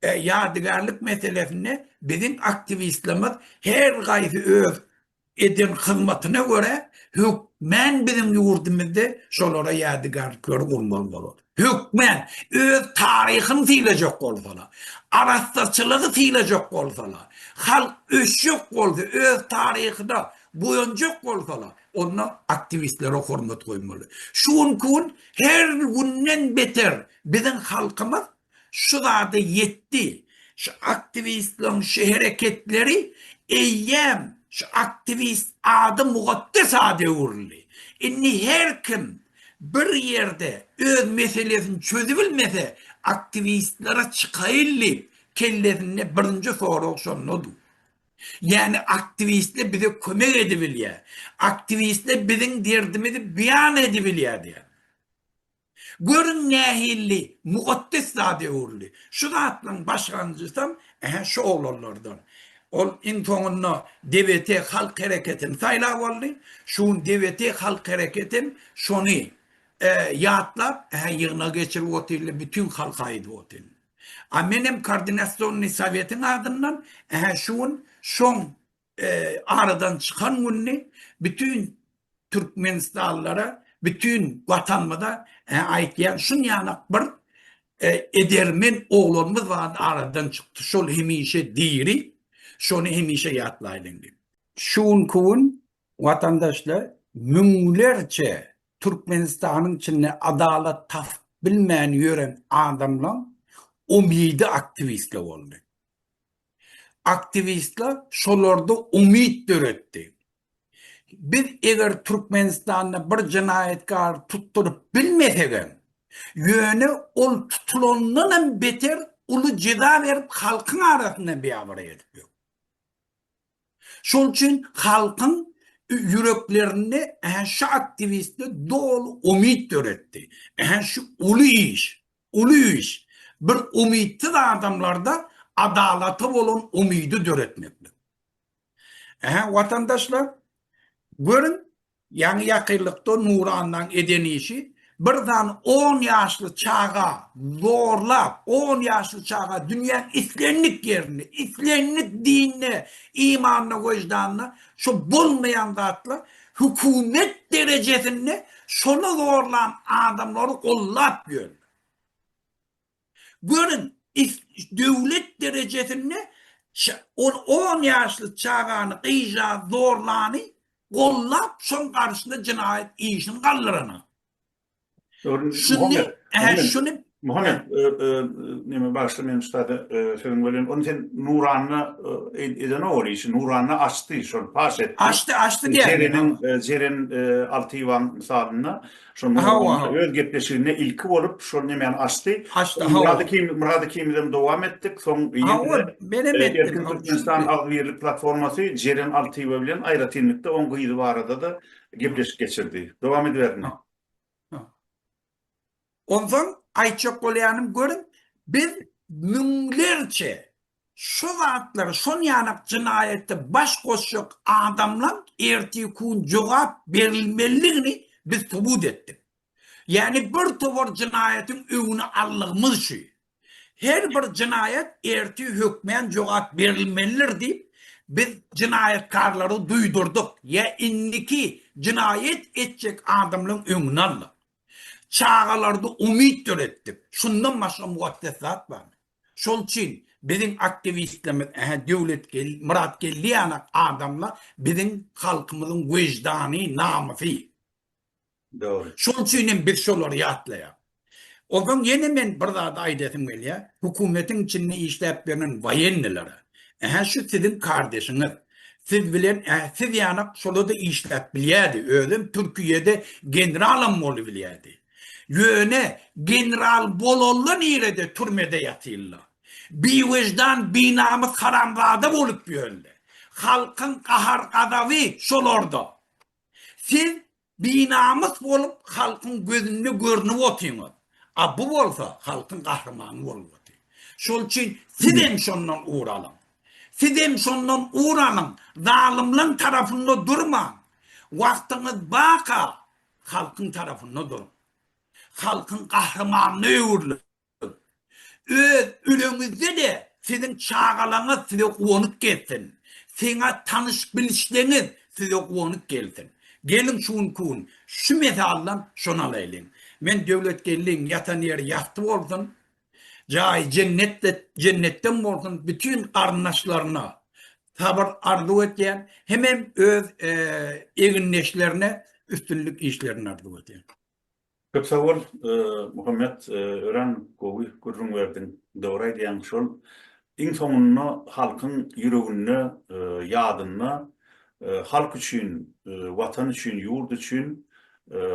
ýadygärlik meselesinde biziň aktiwistlerimiz her gaýsy öz eden hyzmatyna görä hökmän biziň ýurdumyzda şolara ýadygärlikleri gurmaly bolar. Hökmän, öz taryhyny sylaýjak bolsalar, arassaçylygy sylaýjak bolsalar, halk ösjek bolsa, öz taryhyna buýanjak bolsalar, onda aktiwistlere hormat goýmaly. Şu günki gün her günden beter biziň halkymyz şu zada ýetdi. Şu aktiwistleriň şu hereketleri eýýäm şu aktiwist ady mugeddes ada öwrüldi. Indi her kim Bir ýerde öz meselesini çözübilmese, aktiwistlere çykaýyn diýip, kellesinde birinji sorag şonda dur. Ýagny aktiwistler bize kömek edibilýär, aktiwistler biziň derdimizi beýan edibilýär diýýär. Görüň nähilli mukaddes zada öwrüldi. Şu zatlaryň başlanjysam, ähä şu oglanlardan. Ol iň soňunda DBT Halk Hereketini saýlap aldy. Şu gün DBT Halk Hereketi hem şony ýatlap, hä ýygnak geçirip otyrly, bütin halka aýdyp otyrly. A men hem Koordinasionnyý Sowetiň adyndan, hä şu gün şoň aradan çykan gününi bütin Türkmenistanlylara bütin watanymyza aýtýan şunýanak bir edermen oglanymyz bar aradan çykdy şol hemişe diri şony hemişe ýatlaýlyň diýip. Şu günki gün watandaşlar müňlerçe Türkmenistanyň içinde adalat tapyp bilmän ýören adamlaň umydy aktiwistler boldy. Aktiwistler şolarda umyt döretdi. Biz eger Türkmenistanda bir jenaýatkary tutduryp bilmesegem, ýöne ol tutulandanam beter uly jeza berip halkyň arasynda biabraý edip ýör. Şol üçin halkyň ýüreklerinde ähä şu aktiwistde doly umyt döretdi. Ähä şu uly iş, uly iş bir umytsyz adamlarda adalata bolan umydy döretmeklik. Ähä watandaşlar görüň ýaňy ýakynlykda Nurannaň eden işi bir dan on ýaşly çaga zorlap on ýaşly çaga dünýäň islendik ýerinde islendik dinde imanyna weždanyna şu bolmaýan zatla hökümet derejesinde şony zorlan adamlary gollap ýörler. Görüň, döwlet derejesinde ol on ýaşly çagany, gyza zorlany gollap, şoň garşyna jenaýat işini galdyrana. Şuny, Muhammet, neme bagşy men ustada sözüň bölýän. Ony sen Nuranyna eden ol işi, Nuranyna açdy, şol paş etdi. Açdy, açdy diýýär. Jeren, Jeren Altyýewiň misalynda Şonda Murad öz gepleşiginde ilki bolup şol nemäni açdy. Açdy. Murad Hekim, Murad Hekim bilen dowam etdik. Soň ýene men hem etdim. Erkin Türkmenistan agzybirlik platformasy Jeren Altyýewa bilen aýratynlykda oň gyzy barada-da gepleşik geçirdi. Dowam ediberdimi? Onsoň aýtjak bolýanym görüň, biz müňlerçe Şo zatlar şon ýanak jynaýata baş goşjak adamlaň ertir kun jogap berilmeligini biz subut etdik. Ýani bir towar jynaýatyň öwüni allygymyz şu. Her bir jynaýat ertir hökmän jogap berilmelidir diýip biz jynaýatkarlary duýdurdyk ýa indiki jynaýat etjek adamlaň öňüni aldyk. Çagalarda umyt döretdik. Şundan başga mugakdes zat barmy? Şol üçin biziň aktiwistlerimiz ähä Döwlet Geldi, Myrat Geldi ýaly adamlar biziň halkymyzyň weždany, namysy. Dogry. Şol üçin hem biz şolary ýatlaýar. Onsoň ýene men bir zady aýdasym gelýär, hökümetiň içinde işläp ýören waýennilere, ähä şu siziň kardeşiňiz, siz bilen ähä siz ýanak şolada işläp bilýärdi, özem Türkiýede generalam bolubilýärdi. Ýöne general bolalla nirede türmede ýatylla. Biwejdan binamys haramzada bolup ýörle. Halkyň gahar gazaby şolarda. Siz binamys bolup halkyň gözünde görünip otyňyz. A bu bolsa halkyň gahrymany bolup oty. Şol üçin sizem şondan ugur alyň. Sizem şondan ugur alyň. Zalymlaň tarapynda durmaň. Wagtyňyz baka. Halkyň tarapynda duruň. Halkyň gahrymanyna öwrüliň. Öz öleňizde-de siziň çagalaňyz size guwanyp gezsin. Siňa tanyş-bilişleňiz size guwanyp gelsin. Geliň şu günki gün şu mesaldan şony alaýlyň. Men Döwletgeldiň ýatan ýeri ýagty bolsun. Jaýy jennetde jennetden bolsun bütin garyndaşlaryna sabyr arzuw etýän hemem öz egindeşlerine üstünlik işlerini arzuw etýän. Köp sag bol Muhammet örän gowy gürrüň berdiň dogry aýdýaň şol iň soňunda halkyň ýüreginde ýadynda halk üçin watan üçin ýurt üçin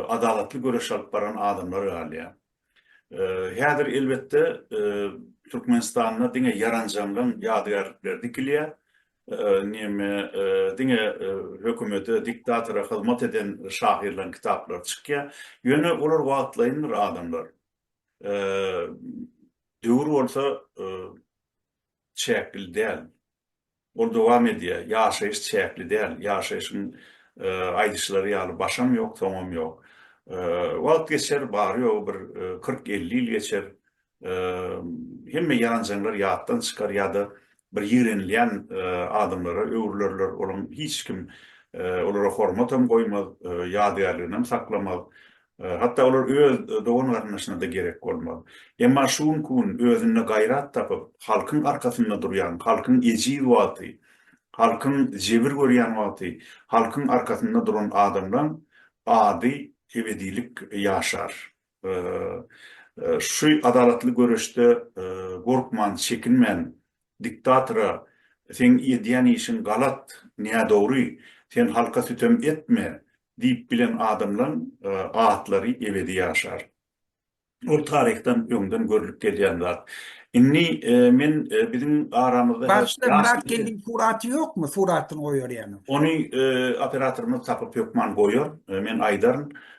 adalatly göreş alyp baran adamlar galýar Häzir elbetde Türkmenistanda diňe ýaranjaňlaň ýadygärlikleri dikilýär. Näme diňe hökümete, diktatora hyzmat eden şahyrlaryň kitaplary çykýar. Ýöne olar wagtlaýyndyr adamlar. Döwür bolsa çäkli däl. Ol dowam edýär, Ýaşaýyş çäkli däl. Ýaşaýşyň aýdyşlary ýaly başam ýok, soňam ýok. Wagt geçer, bary-ýogy bir kyrk-elli ýyl geçer. Hemme ýanjaňlar ýatdan çykar ýa-da bir ýigrenilýän adamlara öwrülerler. Olaň hiç kim olara hormatam goýmaz, ýadygärliginem saklamaz. Hatda olar öz dogan-garyndaşyna-da gerek bolmaz. Emma şu günki gün özünde gaýrat tapyp, halkyň arkasynda durýan, halkyň ejiz wagty, halkyň jebir görýän wagty halkyň arkasynda duran adamlaň ady ebedilik ýaşar. Şu adalatly göreşde gorkman, çekinmän Diktatora seň edýän işiň galat, nädogry, sen halka sütem etme diýip bilen adamlaň atlary ebedi ýaşar. Ol taryhdan öňden görlüp gelýän zat. Indi men biziň aramyzda häzir Bagşylar Myrat Geldiň suraty ýokmy? Suratyny goýar ýaňy. Ony operatorymyz tapyp hökman goýar. Men aýdaryn.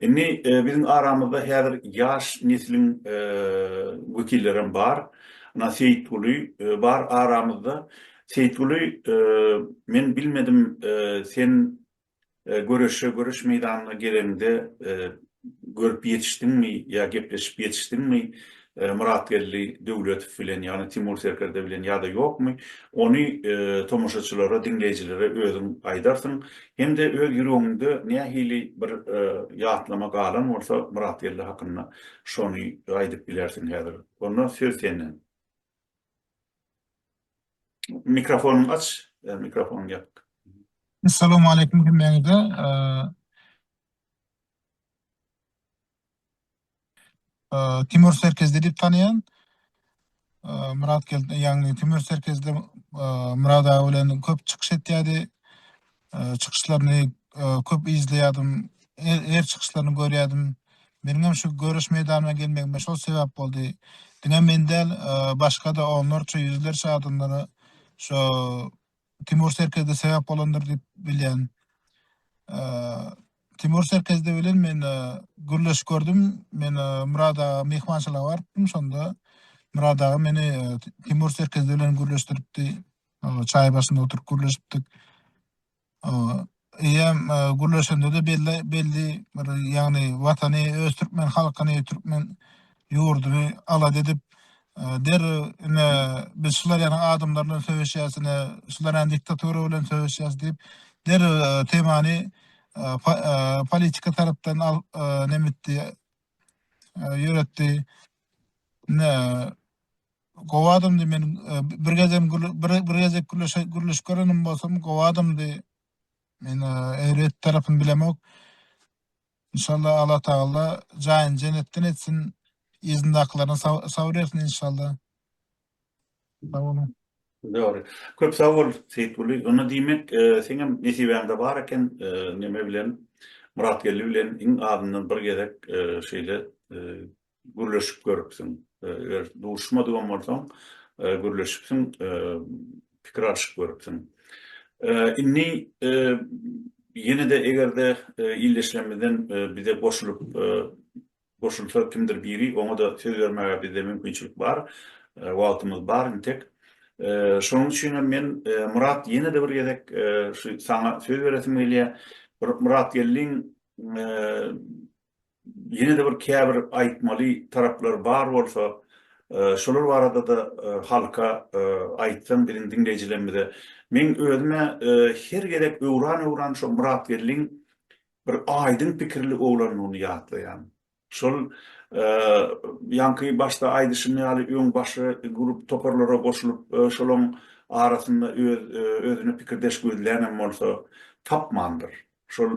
Indi biziň aramyzda häzir ýaş nesliň wekillerem bar. Ynha Seýitguly bar aramyzda. Seýitguly, men bilmedim, sen göreşe göreş meýdanyna geleniňde görüp ýetişdiňmi ýa gepleşip ýetişdiňmi? Myratgeldi Döwletow bilen ýagny Timur Serkerde bilen ýa-da ýokmy, ony tomaşaçylara, diňleýjilere özüň aýdarsyň. Hem-de öz ýüregiňde nähili bir ýatlama galan bolsa Myratgeldi hakynda şony aýdyp bilersiň häzir. Onda söz senden. Mikrofonyňy aç, mikrofonyň ýapyk. Salowmaleýkim hemmäňize. Timur Serkezli diýip tanaýan. Myrat Gel, ýagny Timur Serkezli Myrat aga bilen köp çykyş etýärdi. Çykyşlaryny köp izleýärdim. Her çykyşlaryny görýärdim. Meniň hem şu göreş meýdanyna gelmegime şol sebäp boldy. Diňe men däl, başga-da onlarça, ýüzlerçe adamlara şo Timur Serkezde sebäp bolandyr diýip bilýän. Timur Serkezde bilen men gürleşip gördüm. Men Murad aga myhmançylyga barypdym. Şonda Murad aga meni Timur Serkezde bilen gürleşdiripdi. Çaý başynda oturyp gürleşipdik. Eýýäm gürleşende-de belli belli bir ýagny watany öz türkmen halkyny, türkmen ýurduny alada edip, derrew ine biz şular ýaly adamlar bilen söweşýäs, ine şular ýaly diktatura bilen söweşýäs diýip, derrew temany politika tarapdan al neme etdi, ýöretdi. Ine, Gowy adamdy men bir gezem bir gezek gürleşip görenim bolsam gowy adamdy men erbet tarapyny bilemok inşallah Allah tagalla jaýyny jenetden etsin yzyndakylaryna sabyr bersin inşallah sag boluň Dogry. Köp sag bol Seýitguly. Onda diýmek, seňem nesibäňde bar eken, neme bilen, Myratgeldi bilen iň azyndan bir gezek şeýle Gürleşip görüpsiň. Eger duşmadygam bolsaň, gürleşipsiň, pikir alşyp görüpsiň. Indi ýene-de eger-de ildeşlerimizden bize goşulyp goşulsa kimdir biri, oňa-da söz bermäge bizde mümkinçilik bar, wagtymyz bar intek. Şonuň üçin hem men, Myrat, ýene-de bir gezek şu saňa söz beresim gelýär. Bir Myratgeldiň ýene-de bir käbir aýtmaly taraplar bar bolsa, şolar barada-da halka aýtsaň biziň diňleýjilerimize. Meň özüm-ä her gezek öwran-öwran şo Myratgeldiň bir aýdyň pikirli oglandygyny ýatlaýan. Şol ýaňky başda aýdyşym ýaly öň başga grup toparlara goşulyp, şolaň arasynda öz özüne pikirdeş gözlän hem bolsa tapmandyr. Şol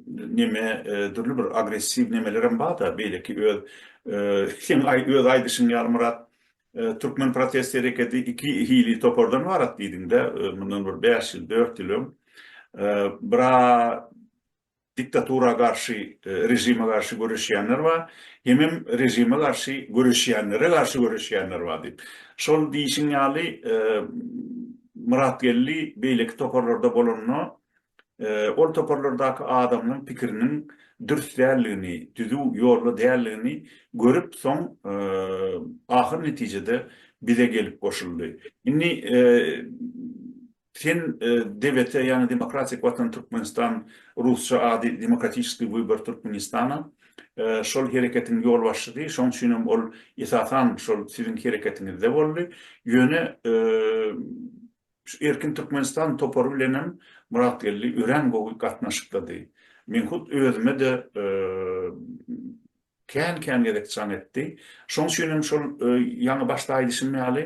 neme dürli bir agressiw nemelerem barda beýleki öz seň öz aýdyşyň ýaly Myrat türkmen protest hereketi iki hili topardan ybarat diýdiňdä mundan bir bäş ýyl dört ýyl öň bra diktatura garşy režime garşy göreşýänler bar hemem režime garşy göreşýänlere garşy göreşýänler bar diýip şol diýişiň ýaly Myrat Geldi beýleki toparlarda bolanda Ol toparlardaky adamlaryň pikiriniň dürs däldigini, düzüw ýolda däldigini görüp, soň ahyr netijede bize gelip goşuldy. Indi sen DVT, ýagny Demokratik Watan Türkmenistan, rusça ady Demokratiçeskiý Wybory Türkmenistana, şol hereketiň ýolbaşçysy, şoň üçin hem ol esasan şol siziň hereketiňizde boldy. Ýöne Şu Erkin Türkmenistan topary bilenem Myratgeldi örän gowy gatnaşyklydy. Men hut özüme-de kän-kän gezek jaň etdi. Şoň üçin hem şol ýaňy başda aýdyşym ýaly,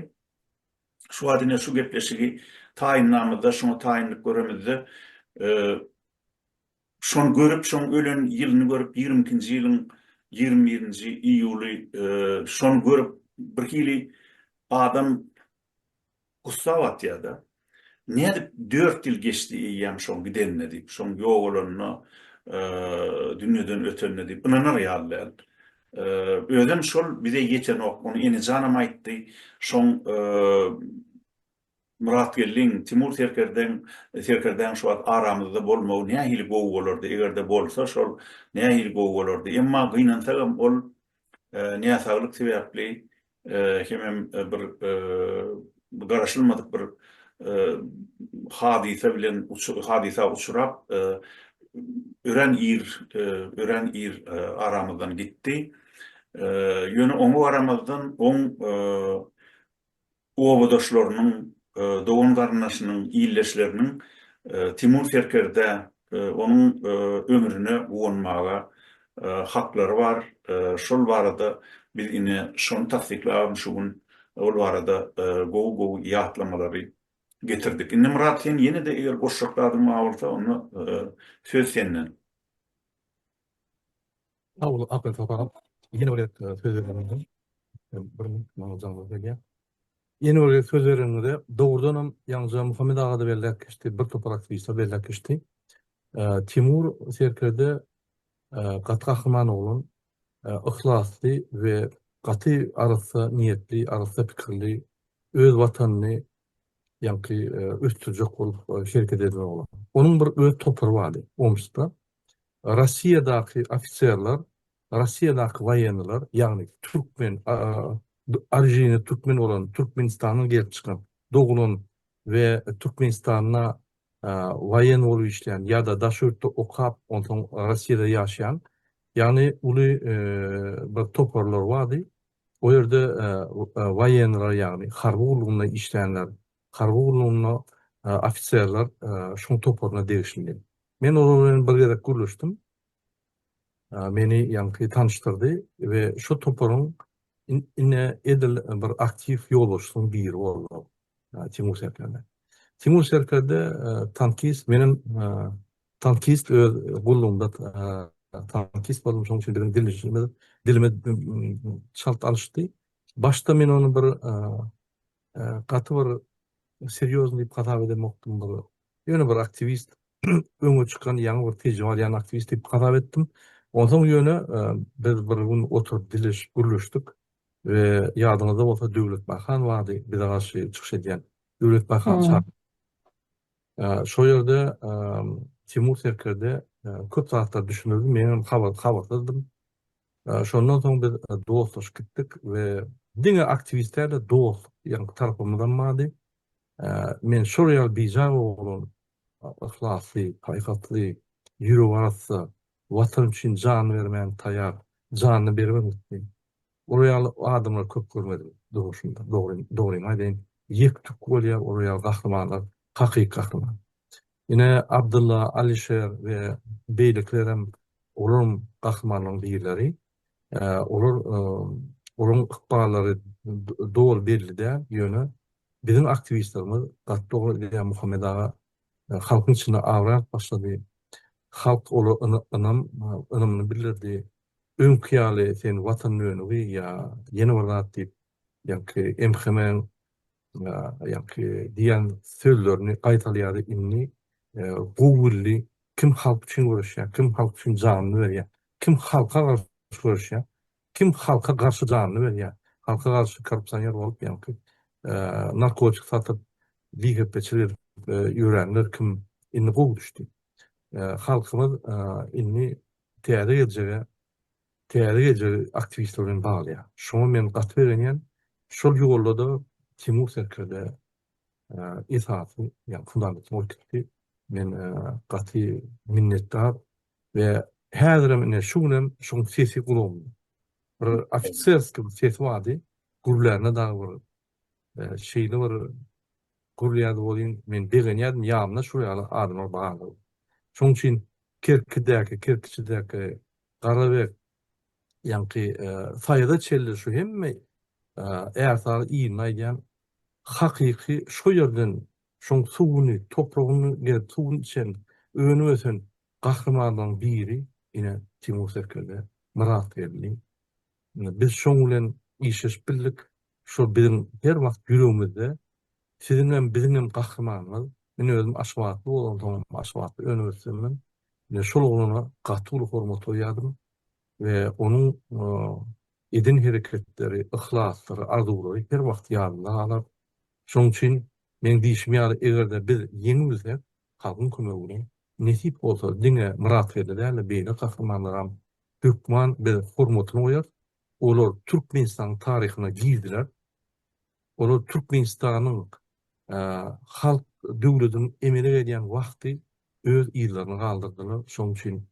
şu wagt ine şu gepleşigi taýynlamyzda, şuňa taýynlyk göremizde, şony görüp, şoň ölen ýylyny görüp, ýigrimi ikinji ýylyň ýigrimi birinji iýuly, şony görüp, birhili adam Gussa batýar-da. Nädip dört ýyl geçdi eýýäm şoň gidenine diýip, şoň ýogalanyna, dünýeden ötenine diýip ynanar ýaly däl. Özem şol bize ýetenok, ony Enijanam aýtdy, şoň Myratgeldiň, Timur serkerdeň, serkerdäň şu wagt aramyzda bolmagy nähili gowy bolardy, eger-de bolsa şol nähili gowy bolardy. Emma gynansagam ol näsaglyk sebäpli hemem bir garaşylmadyk bir hadysa bilen hadysa uçrap örän ir örän ir aramyzdan gitdi. Ýöne oňa garamazdan oň obadaşlarynyň, dogan-garyndaşynyň, ildeşleriniň Timur serkerdä onuň ömrüne guwanmaga haklary bar, şol barada biz ine şony tassyklabam şu gün ol barada gowy gowy ýatlamalary getirdik. Indi Myrat sen ýene-de eger goşjak zadyň bar bolsa onda söz senden. Sag boluň Akyl Sokak. Ýene bir gezek söz bereniňize bir minut maňa jaňa gelýär. Ýene bir gezek söz bereniňize dogrudanam ýaňja Muhammet agada belläp geçdi, bir topar aktiwistler belläp geçdi. Timur serkerde gaty gahryman oglan, yhlasly we gaty arassa niýetli, arassa pikirli, öz watanyny ýaňky ösdürjek bolup hereket eden oglan. Onuň bir öz topary bardy Omskda. Rossiýadaky ofiserler, Rossiýadaky waýenniler, ýagny türkmen, orijini türkmen bolan, Türkmenistandan gelip çykan, doglan we Türkmenistanda waýen bolup işleýän ýa-da daş ýurtda okap, onsoň Rossiýada ýaşaýan, ýagny uly bir toparlar bardy. O ýerde waýenniler, ýagny harby gullugynda işleýänler, Harby gullugynda ofiserler şuň toparyna degişlidi. Men olar bilen bir gezek gürleşdim. Meni ýaňky tanyşdyrdy we şu toparyň ine edil bir aktiw ýolbaşçysynyň biri boldy. Timur Serkerde. Timur Serkerde tankist, menem tankist öz gullugymda tankist boldum, şonuň üçin biziň dilimiz dilimiz çalt alyşdy. Başda men ony bir gaty bir serýozny diýip hasap edemokdym bir ýöne bir aktiwist öňe çykan ýaňy bir tejribe alýan aktiwist diýip hasap etdim onsoň ýöne biz bir gün oturyp dileşip gürleşdik we ýadyňyzda bolsa Döwlet Baýhan bardy bize garşy çykyş edýän Döwlet Baýhan çak şo ýerde Timur Serkerde köp zatlar düşünirdi menem habar habarsyzdym Şondan soň biz dostlaşyp gitdik we diňe aktiwistlerle dost diýen tarapymyzam bardy. Men şol ýaly bijaý oglan, yhlasly, paýhasly, ýüregarassa, Watan üçin jan bermäne taýýar, janyny beribem gitdi. Olar ýaly adamlary köp görmedim durmuşymda. Dogrymy aýdaýyn, ýek-tük bolýar olar ýaly gahrymanlar, hakyky gahryman. Ine, Abdylla, Alişer we beýlekilerem olaryň gahrymanlaryň birleri. Olar, olaryň ykballary doly belli däl, ýöne biziň aktiwistlerimiz gaty dogry edýär, Muhammet aga halkyň içinde abraý alyp başlady. Halk ola ynam, ynamyny bildirdi. Öňki ýaly sen Watan dönügi ýa ýene bir zat diýip, ýaňky MHM-iň Ýaňky diýen sözlerini gaýtalýardy indi gowy bildi kim halk üçin göreşýär kim halk üçin janyny berýär kim halka garşy göreşýär kim halka garşy janyny berýär halka garşy korrupsioner bolup ýaňky narkotik satyp bihepeçilik edip ýörenler kim indi gowy düşdi halkymyz indi täze geljege Täze geljegi aktiwistler bilen baglaýar. Şoňa men gaty begenýän. Şol ýolda-da Timur serkerde esasy, ýagny fundamentini oturtdy. Men gaty minnetdar we häzirem ine şu günem şoň sesi gulagymda. Bir ofiserskiý bir sesi bardy. Gürlände dagy bir şeýle bir gürlýärdi welin, men begenýärdim, ýanymda şu ýaly adamlar bardygy. Şonuň üçin Kerkidäki, Kerkiçidäki Garabek ýaňky Saýada çenli şu hemme ärsary ýygyny aýdýan hakyky şo ýerden şoň suwuny, topragyny gelip suwuny içen, önüp ösen gahrymanlaryň biri ine Timur Serkerde, Myrat Geldi. Biz şoň bilen işleşip bildik, Şo biziň her wagt ýüregimizde siziňem biziňem gahrymanymyz men özüm aşgabatly bolansoňam aşgabatda önüp ösdimmi men şol oglana gaty uly hormat goýýadym we onuň eden hereketleri yhlaslary arzuwlary her wagt ýadymda galar şoň üçin meň diýşim ýaly egerde biz ýeňi bilsek halkyň kömegi bilen nesip bolsa diňe myratgeldi dälde beýle gahrymanlaram hökman biz hormatyny goýarys Olar Türkmenistanyň taryhyna girdiler. Olar Türkmenistanyň halk döwlediň emele gelýän wagty öz yzlaryny galdyrdylar. Şonuň üçin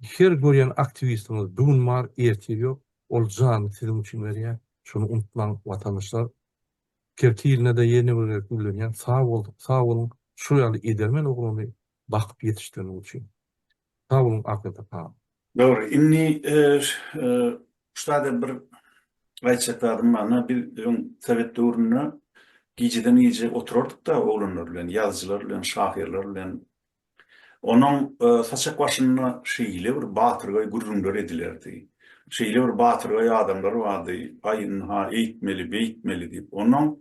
her görýän aktiwistiňiz bu gün bar, ertir ýok. Ol janyny siziň üçin berýär. Şuny unutmaň, watandaşlar. Kerki iline-de ýene bir gezek gürlenýän sag bol, sag boluň şu ýaly edermen oglany bakyp ýetişdireniň üçin. Sag boluň Akasaka. Dogry. Indi ştada bir aýtjak zadym bar. Na biz öň sowet döwründe gijeden gije oturardyk-da oglanlar bilen, ýazyjylar bilen, şahyrlar bilen. Onuň saçak başynda şeýle bir batyrgaý gürrüňler edilerdi. Şeýle bir batyrgaý adamlar bardy, aý ynha eýtmeli, beýtmeli diýip. Onnoň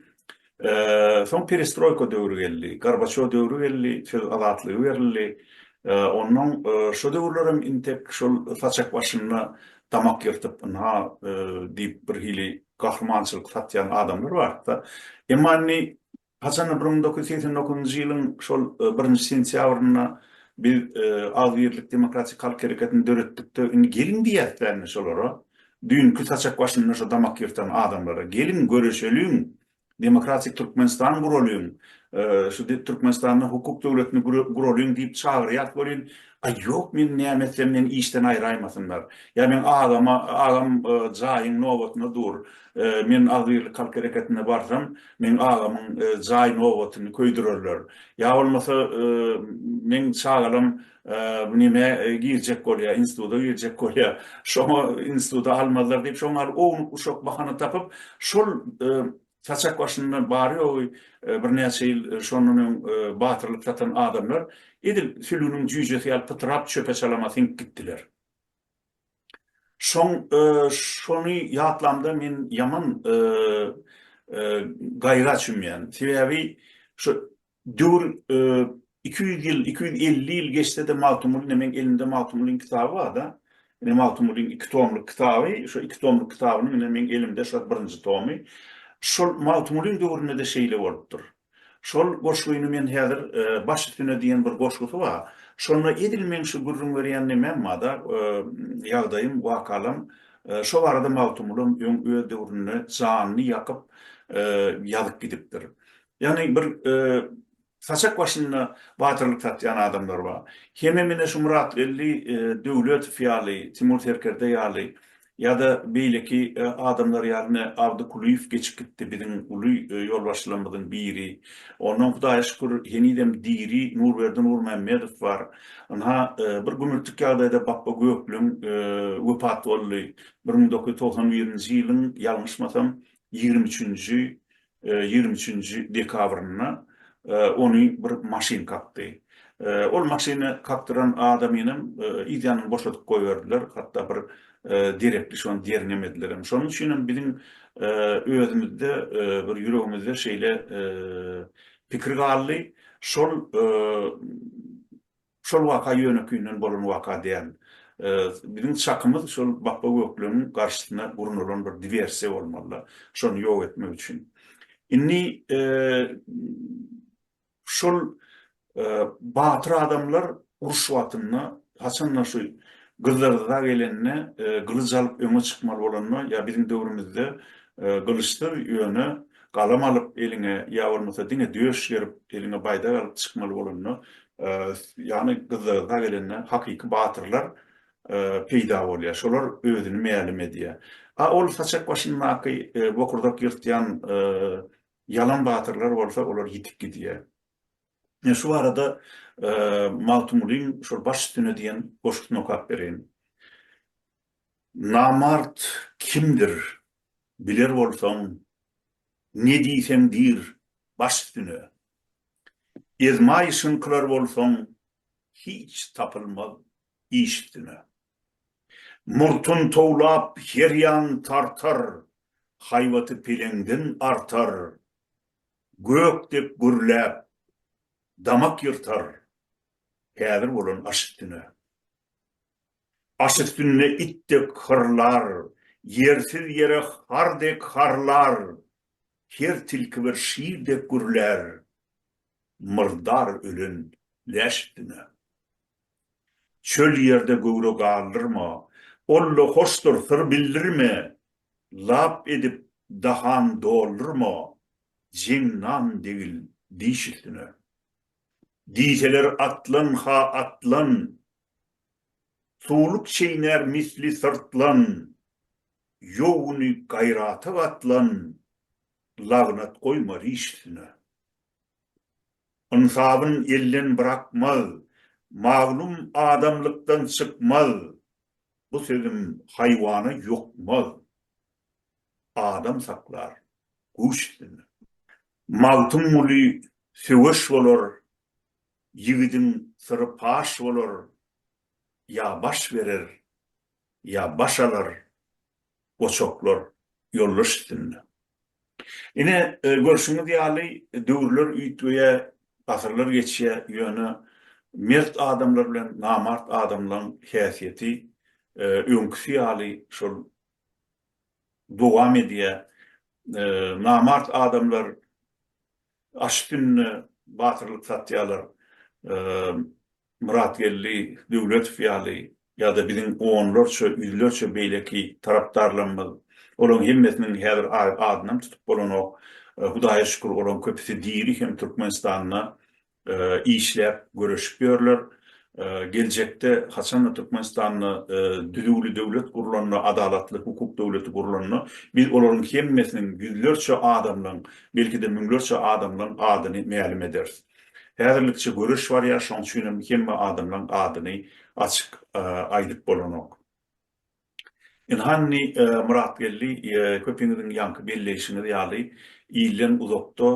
Soň perestroýka döwri geldi, Gorbaçýow döwri geldi, söz azatlygy berildi. Onnoň şo döwürlerem intek şol saçak başynda damak ýyrtyp, ynha diýip birhili gahrymançylyk satýan adamlar bardy-da. Emma indi haçanda bir müň dokuz ýüz segsen dokuzynjy ýylyň şol birinji sentýabrynda biz Agzybirlik demokratik halk hereketini döretdikde, indi geliň diýýäs-dä indi şolara. Düýnki saçak başynda şo damak ýyrtan adamlara, geliň göreşeliň, demokratik Türkmenistan guralyň, şu Türkmenistanda hukuk döwletini guralyň diýip çagyrýas welin, aý ýok men näme etsem meni işden aýraýmasynlar, ýa meň agama, agam jaýyň nobatyna dur, men agzybirlik halk hereketine barsam meň agamyň jaý nobatyny köýdürerler, ýa bolmasa meň çagalam Bu näme girjek bolýa, instituta girjek bolýa, şoňa instituta almazlar diýip, şoňa gal ownuk-uşak bahana tapyp, şol saçak başynda bary ýogy birnäçe ýyl şondan öň batyrlyk satan adamlar edil sülgüniň jüýjesi ýaly pytrap çöpe-çalama siňip gitdiler. Şoň şony ýatlamda men ýaman gaýra çümýän. Sebäbi şo Döwür iki ýüz ýyl, iki ýüz elli ýyl geçse-de Magtymguly ine meň elimde Magtymgulyň kitaby bar-da. Ine Magtymgulyň iki tomluk kitaby, şo iki tomluk kitabynyň ine meň elimde şo birinji tomy. Şol Magtymgulyň döwründe-de şeýle bolupdyr. Şol goşgyny men häzir Baş üstüne diýen bir goşgusy bar. Şonda edil meň şu gürrüň berýän nemem bar-da, ýagdaýym, wakalam. Şo barada Magtymgulam öň öz döwründe janyny ýakyp ýazyp gidipdir. Ýagny bir saçak başynda batyrlyk satýan adamlar bar. Hemem ine şu Myratgeldi Döwletow ýaly, Timur Serkerde ýaly ýa-da beýleki adamlar ýaly ine Abdy Kulyýew geçip gitdi biziň uly ýolbaşçylarymyzyň biri. Ondan Hudaýa şükür henizem diri Nurberdi Nurmämmedow bar. Ynha bir gümürtik ýagdaýda Bapba Gökleň wepat boldy. Bir müň dokuz ýüz togsan birinji ýylyň ýalňyşmasam ýigrimi üçünji ýigrimi üçünji dekabrynda ony bir maşyn kakdy. Ol maşyny kakdyran adamynam yz ýanyny boşadyp goýberdiler, hatda bir derekli şony derňemedilerem. Şonuň üçinem biziň özümizde bir ýüregimizde şeýle pikir galdy. Şol Şol waka ýönekeýinden bolan waka däl. Biziň çakymyz şol Bapba Gökleňiň garşysyna gurnalan bir diwersiýa bolmaly-da, şony ýok etmek üçin. Indi şol batyr adamlar uruş wagtynda haçan-da şu gyzlarydza gelende, gylyç alyp öňe çykmaly bolanda, ýa biziň döwrümizde gylyçsyz, ýöne galam alyp eliňe ýa bolmasa diňe döş gerip, eliňe baýdak alyp çykmaly bolanda, ýagny gyzlarga gelende hakyky batyrlar peýda bolýar. Şolar özüni mälim edýär. A ol saçak başyndaky bokurdak ýyrtýan ýalan batyrlar bolsa olar ýitip gidýär. Men şu barada Magtymgulyň şol Baş üstüne diýen goşgusyny okap bereýin. Namart kimdir biler bolsaň, ne diýseň diýr baş üstüne. Ezmaýşyňkylar bolsaň hiç tapylmaz iş üstüne. Murtun towlap her ýan tartar, haýbaty peleňden artar, gök dek gürläp damak ýyrtar, häzir bolan aş üstüne. Aş üstünde it dek hyrlar, ýersiz ýere har dek harlar, Her tilki bir şir dek gürlär, Myrdar ölen läş üstüne. Çöl ýerde göwre galdyrma, Olla hoşdur, syr bildirme, Lap edip dahan doldurma, Jeň nan degil diş üstüne. Diýseler atlan-ha atlan, Suwluk çeýnär misli syrtlan, Ýowguny gaýrata gatlan, Lagnat goýmaz iş üstüne. Ynsabyn elden brakmaz, Maglum adamlykdan çykmaz, Bu sözüm haýwana ýokmaz, Adam saklar guş üstüne. Magtymguly söweş bolar, Ýigidiň syry paş bolar, ýa baş berer, ýa baş alar, goçaklar ýoldaş üstünde. Ine, görşüňiz ýaly, döwürler üýtgeýär, asyrlar geçýär, ýöne mert adamlar bilen namart adamlaryň häsiýeti öňküsi ýaly şol dowam edýär. Namart adamlar aşyk gününe batyrlyk satýarlar. Myratgeldi Döwletow ýaly ýa-da biziň onlarça, ýüzlerçe beýleki tarapdarlarymyz, olaryň hemmesiniň häzir adynam tutup bolanok, Hudaýa şükür, olaryň köpüsi diri hem Türkmenistanda işläp göreşip ýörler. Geljekde haçanda Türkmenistanda düzüwli döwlet gurlanda, adalatly hukuk döwleti gurlanda biz olaryň hemmesiniň ýüzlerçe adamlaň, belki-de müňlerçe adamlaň adyny mälim ederis. Häzirlikçe göreş barýar, şoň üçin hem hemme adamlaň adyny açyk aýdyp bolanok. Ilhani Myratgeldi köpiňiziň ýaňky belleýşiňiz ýaly ilden uzakda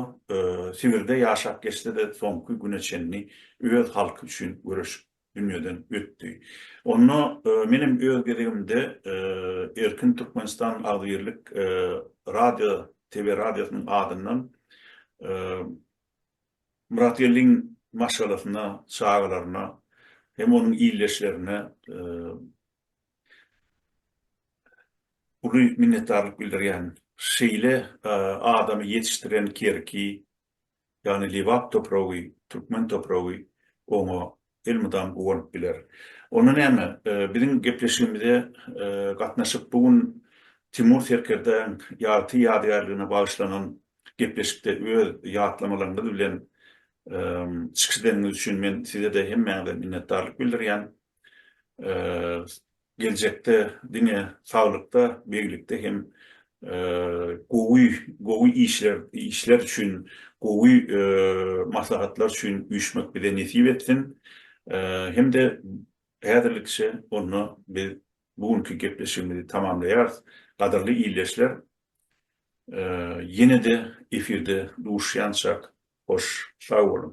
Sibirde ýaşap geçse-de soňky güne çenli öz halky üçin göreşip dünýeden ötdi. Onda menem öz gezegimde Erkin Türkmenistan agzybirlik radio TV radiosynyň adyndan Myratgeldiň maşgalasyna, çagalaryna hem onuň ildeşlerine Uly minnetdarlyk bildirýän. Şeýle adamy ýetişdiren Kerki, ýagny Lebap topragy, türkmen topragy oňa elmydam guwanyp biler. Onda näme, biziň gepleşigimize gatnaşyp, bu gün Timur serkerdäň ýagty ýadygärligine bagyşlanan gepleşikde öz ýatlamalaryňyz bilen çykyş edeniňiz üçin men size-de, hemmäňize minnetdarlyk bildirýän. geljekde diňe saglykda, beglikde hem gowy gowy işler işler üçin, gowy maslahatlar üçin üýşmek bize nesip etsin. Hem-de häzirlikçe onda biz bu günki gepleşigimizi tamamlaýarys. Gadyrly ildeşler, ýene-de efirde duşýançak, hoş sag boluň!